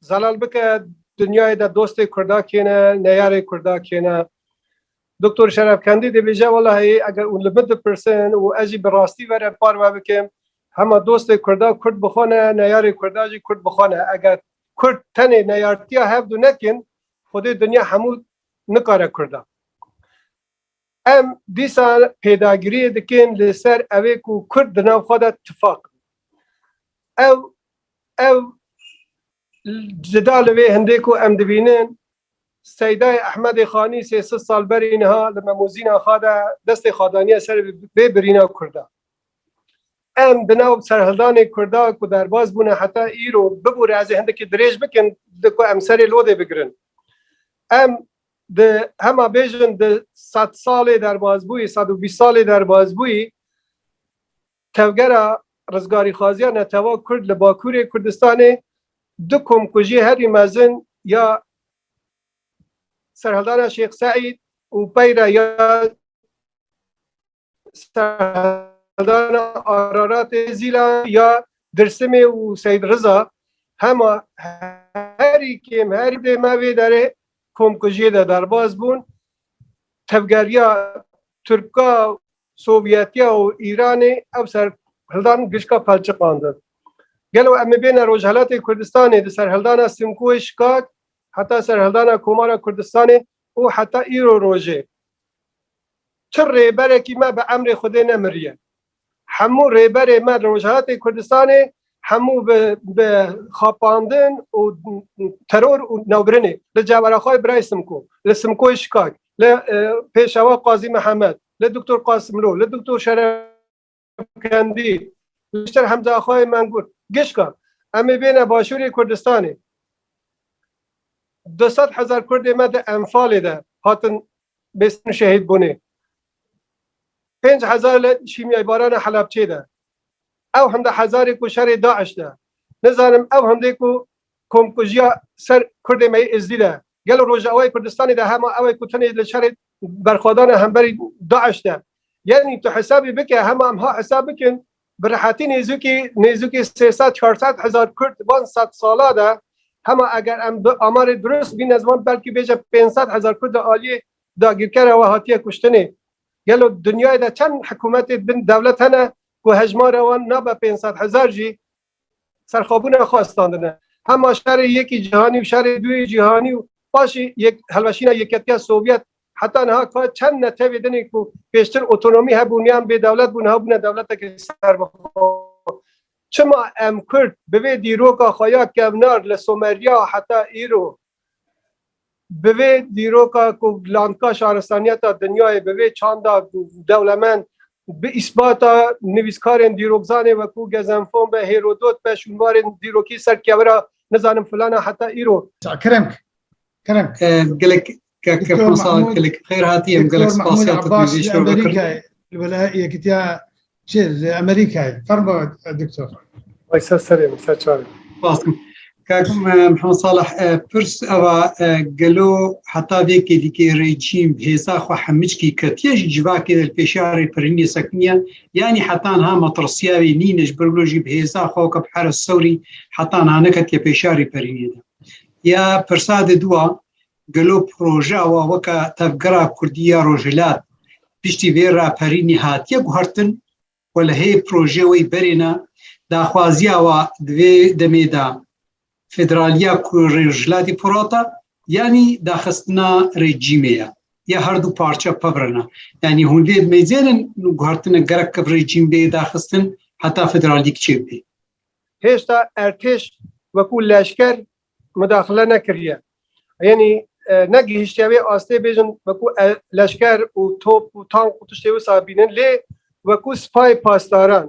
zelal bike dinyayê de dostê Kurda kê ne, neyarê Kurda kê ne. Doktor Şerefkendî dibêje welahî eger û li min dipirsin û ez jî bi rastî ve re parve bikim hema dostê Kurda Kurd bi xwe ne, neyarê Kurda jî Kurd bi xwe ne. Eger Kurd tenê neyartiya hevdu nekin xwedê dinya hemû nikare Kurda. Em dîsa pêdagiriyê dikin li ser ewê ku Kurd di nav xwe de tifaq bin. Ew ew cida li vê hindê ku em dibînin Seydayê Ehmedê Xanî sê sid sal berî niha li Memûzîna xwe de destê xwe daniye ser vê birîna Kurda. Em di nav serhildanê Kurda ku derbas bûne heta îro bibûre ez ê hindekî dirêj bikim di ku em serê lodê bigirin. Em Di hema bêjin di sed salê derbasbûyî, sed û bîst salê derbasbûyî tevgera rizgarîxwaziya netewa Kurd li Bakurê Kurdistanê du komkujiyê herî mezin ya Serhildana Şêx Seîd û peyre ya Serdana Araratê Zîla ya Dirsimê û Seyd Riza hema herî kêm herî dê me vê derê komkujiyê de derbas bûn. Tevgeriya Tirka Sovyetiya û Îranê ev ser hildan gişka pelçiqandin. Gelo em ê bêne Rojhelatê Kurdistanê di serhildana Simkoyê Şikak heta serhildana Komara Kurdistanê û heta îro rojê çi rêberekî me bi emrê Xwedê nemiriye. Hemû rêberê me li Rojhilatê Kurdistanê hemû bi xapandin û teror û navbirinê li Ceveraxay Birayê Simko, li Simkoyê Şikak, li Pêşewa Qazî Mihemed, li Doktor Qasimlo, li Doktor Şeref. Şemkendî Lişter Hemzaxwayê Mengur Gişka em ê bêne Başûrê Kurdistanê. Du sed hezar Kurdê me di Enfalê de hatin bêstin şehîd bûnê. Pênc hezar li şîmyaybarana Helebçê de. Ew hemde hezarê ku şerê DAIŞ de. Nizanim ew hemdê ku Komkujiya ser Kurdê me yê Êzidî de gelo Rojavayê Kurdistanê de hema ew e ku tenê li şerê berxwedan e hemberî DAIŞ de? Yanî tu hesabê bike hema em ha hesab bikin bi rehetî nêzûkî nêzûkî sê sed çar sed hezar Kurd van sed sala de hema eger em bi amarê dirust bîne ziman belkî bêje pênc sed hezar Kurd li aliyê dagîrkere we hatiye kuştinê. Gelo dinyayê de çend hikûmetê bin dewlet hene ku hejmara wan nabe pênc sed hezar jî serxwebûna xwe standine. Hema şerê yekî cîhanî û şerê duyê cîhanî û paşê helweşîna Yeketiya Sovyet heta niha ka çend netewê din ê ku pêştir otonomî hebûn yan bêdewlet bûn niha bûne dewletekî serbixwe. Çima em Kurd bi vê dîroka xwe ya kevnar li Someriya heta îro Bi vê dîroka ku landka şaristaniyeta dinyayê bi vê çanda dewlemend bi îsbata nivîskarên dîrokzanê weku Gezenfon be, Hêrodot be, şûnwarên dîrokî ser kevira nizanim filana heta îro. Keremk. Keremk. Gelek keke Komsa gelek bi xêr hatî em gelek spasiyê te bi vê şewe vekirin. Li Yekîtiya Çi li Amerîkayê? Fermo doktor. Ay ser serê min ser çavê min. Basim. Kakim Mihemed Salih pirs eva gelo heta vê kêdikê rejîm hêza xwe hemickî ketiye ji civakê li pêşarê piriniyê sekiniye yanî heta niha matirsiya wê nîne ji ber jî bi hêza xwe weke bi heres sewrî heta niha neketiye pêşarê piriniyê de. Ya pirsa de dua Gelo projeya wan weke Tevgera Kurdî ya Rojhilat piştî vê raperînê hatiye guhertin û li hê projeyê wê berê ne, daxwaziya wa di vê demê de federaliya Rojhilatê Firat e yanî daxistina rejîmê ye ya her du parçe pevre ne. Yanî hûn vê mêzêrin guhertine gerek kiv rejîm bê daxistin heta federalî kiçê bibê. Hêsta ertêş wekû leşker mudaxile nekiriye. Yenî ne gihiştiye wê astê bêjin wekû leşker û top û tank û tiştê wisa bînin lê wekû sipayê pasdaran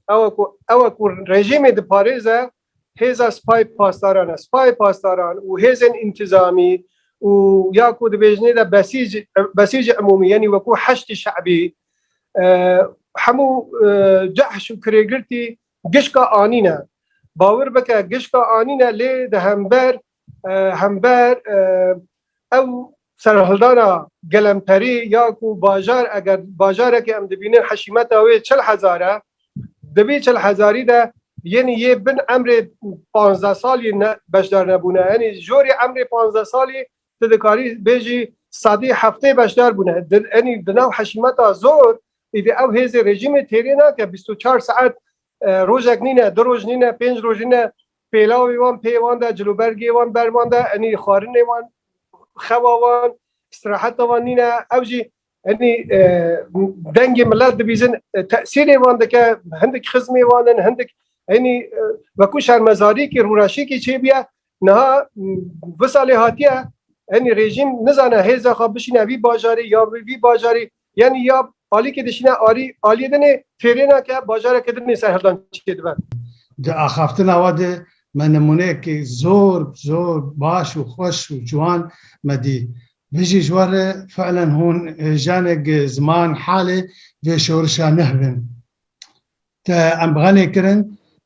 ew ku ew ku rejîmê diparêze hêza sipayê pasdaran e. Sipayê pasdaran û hêzên întîzamî û ya ku dibêjinê de besîc besîcê emûmî yenî wekû heştî şebî hemû cehş û kirêgirtî Gişka anîne. Bawir bike gişka anîne lê di hember hember ew serhildana gelemperî ya ku bajar eger bajarekê em dibînin heşîmeta wê çil hezar e di vî çil hezarî de yenî yê bin emrê panzdeh salî ne beşdar nebûne. Yenî jorê emrê panzdeh salî Tu dikarî bêjî sedî heftê beşdar bûne. Enî di nav heşîmeta zor îdî ew hêzê rejîmê têrê nake bîst û çar saet rojek nîne, du roj nîne, pênc roj nîne pêlawê wan pê wan de, cilûbergê wan ber wan de, enî xwarinê wan, xewa wan, îstiraheta wan nîne. Ew jî Henî dengê milet dibîzin tesîrê wan dike hindik xizmê wan in hindik henî wekû şermezarîkî rûreşîkî çêbûye niha vi salê hatiye henî rêjîm nizane hêza xwe bişîne vî bajarê ya bi vî bajarê yenî ya alîkê dişîne alî aliyê din ê fêrê nake bajareke din ê serhildan çêdibe. Di axaftina we de me nimûneyekî zor zor baş û xweş û ciwan me dî. Dijî ji wan re fiilen hûn jiyanek ziman halê vê şorişa neh bin. Te em xenê kirin,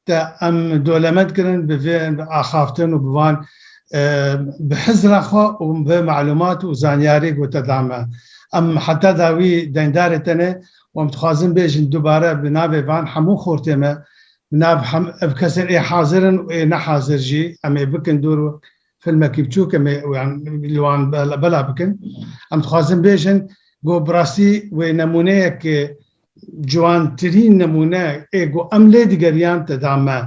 te em dolemend kirin bi vê axaftin û bi van bi hizra xwe û vê melumat û zanyarî ku te da me. Em heta dawî dengdarê te ne û em dixwazin bêjin dubare bi navê van hemû xortê me, bi nav hem ev kesên ê hazir in û ê nehazir jî em ê bikin dûr Filmekî biçûk em ê li wan bela bikin. Em dixwazin bêjin ku bi rastî wê nemûneyek ciwantirîn nemûne ê ku em lê digeriyan te da me.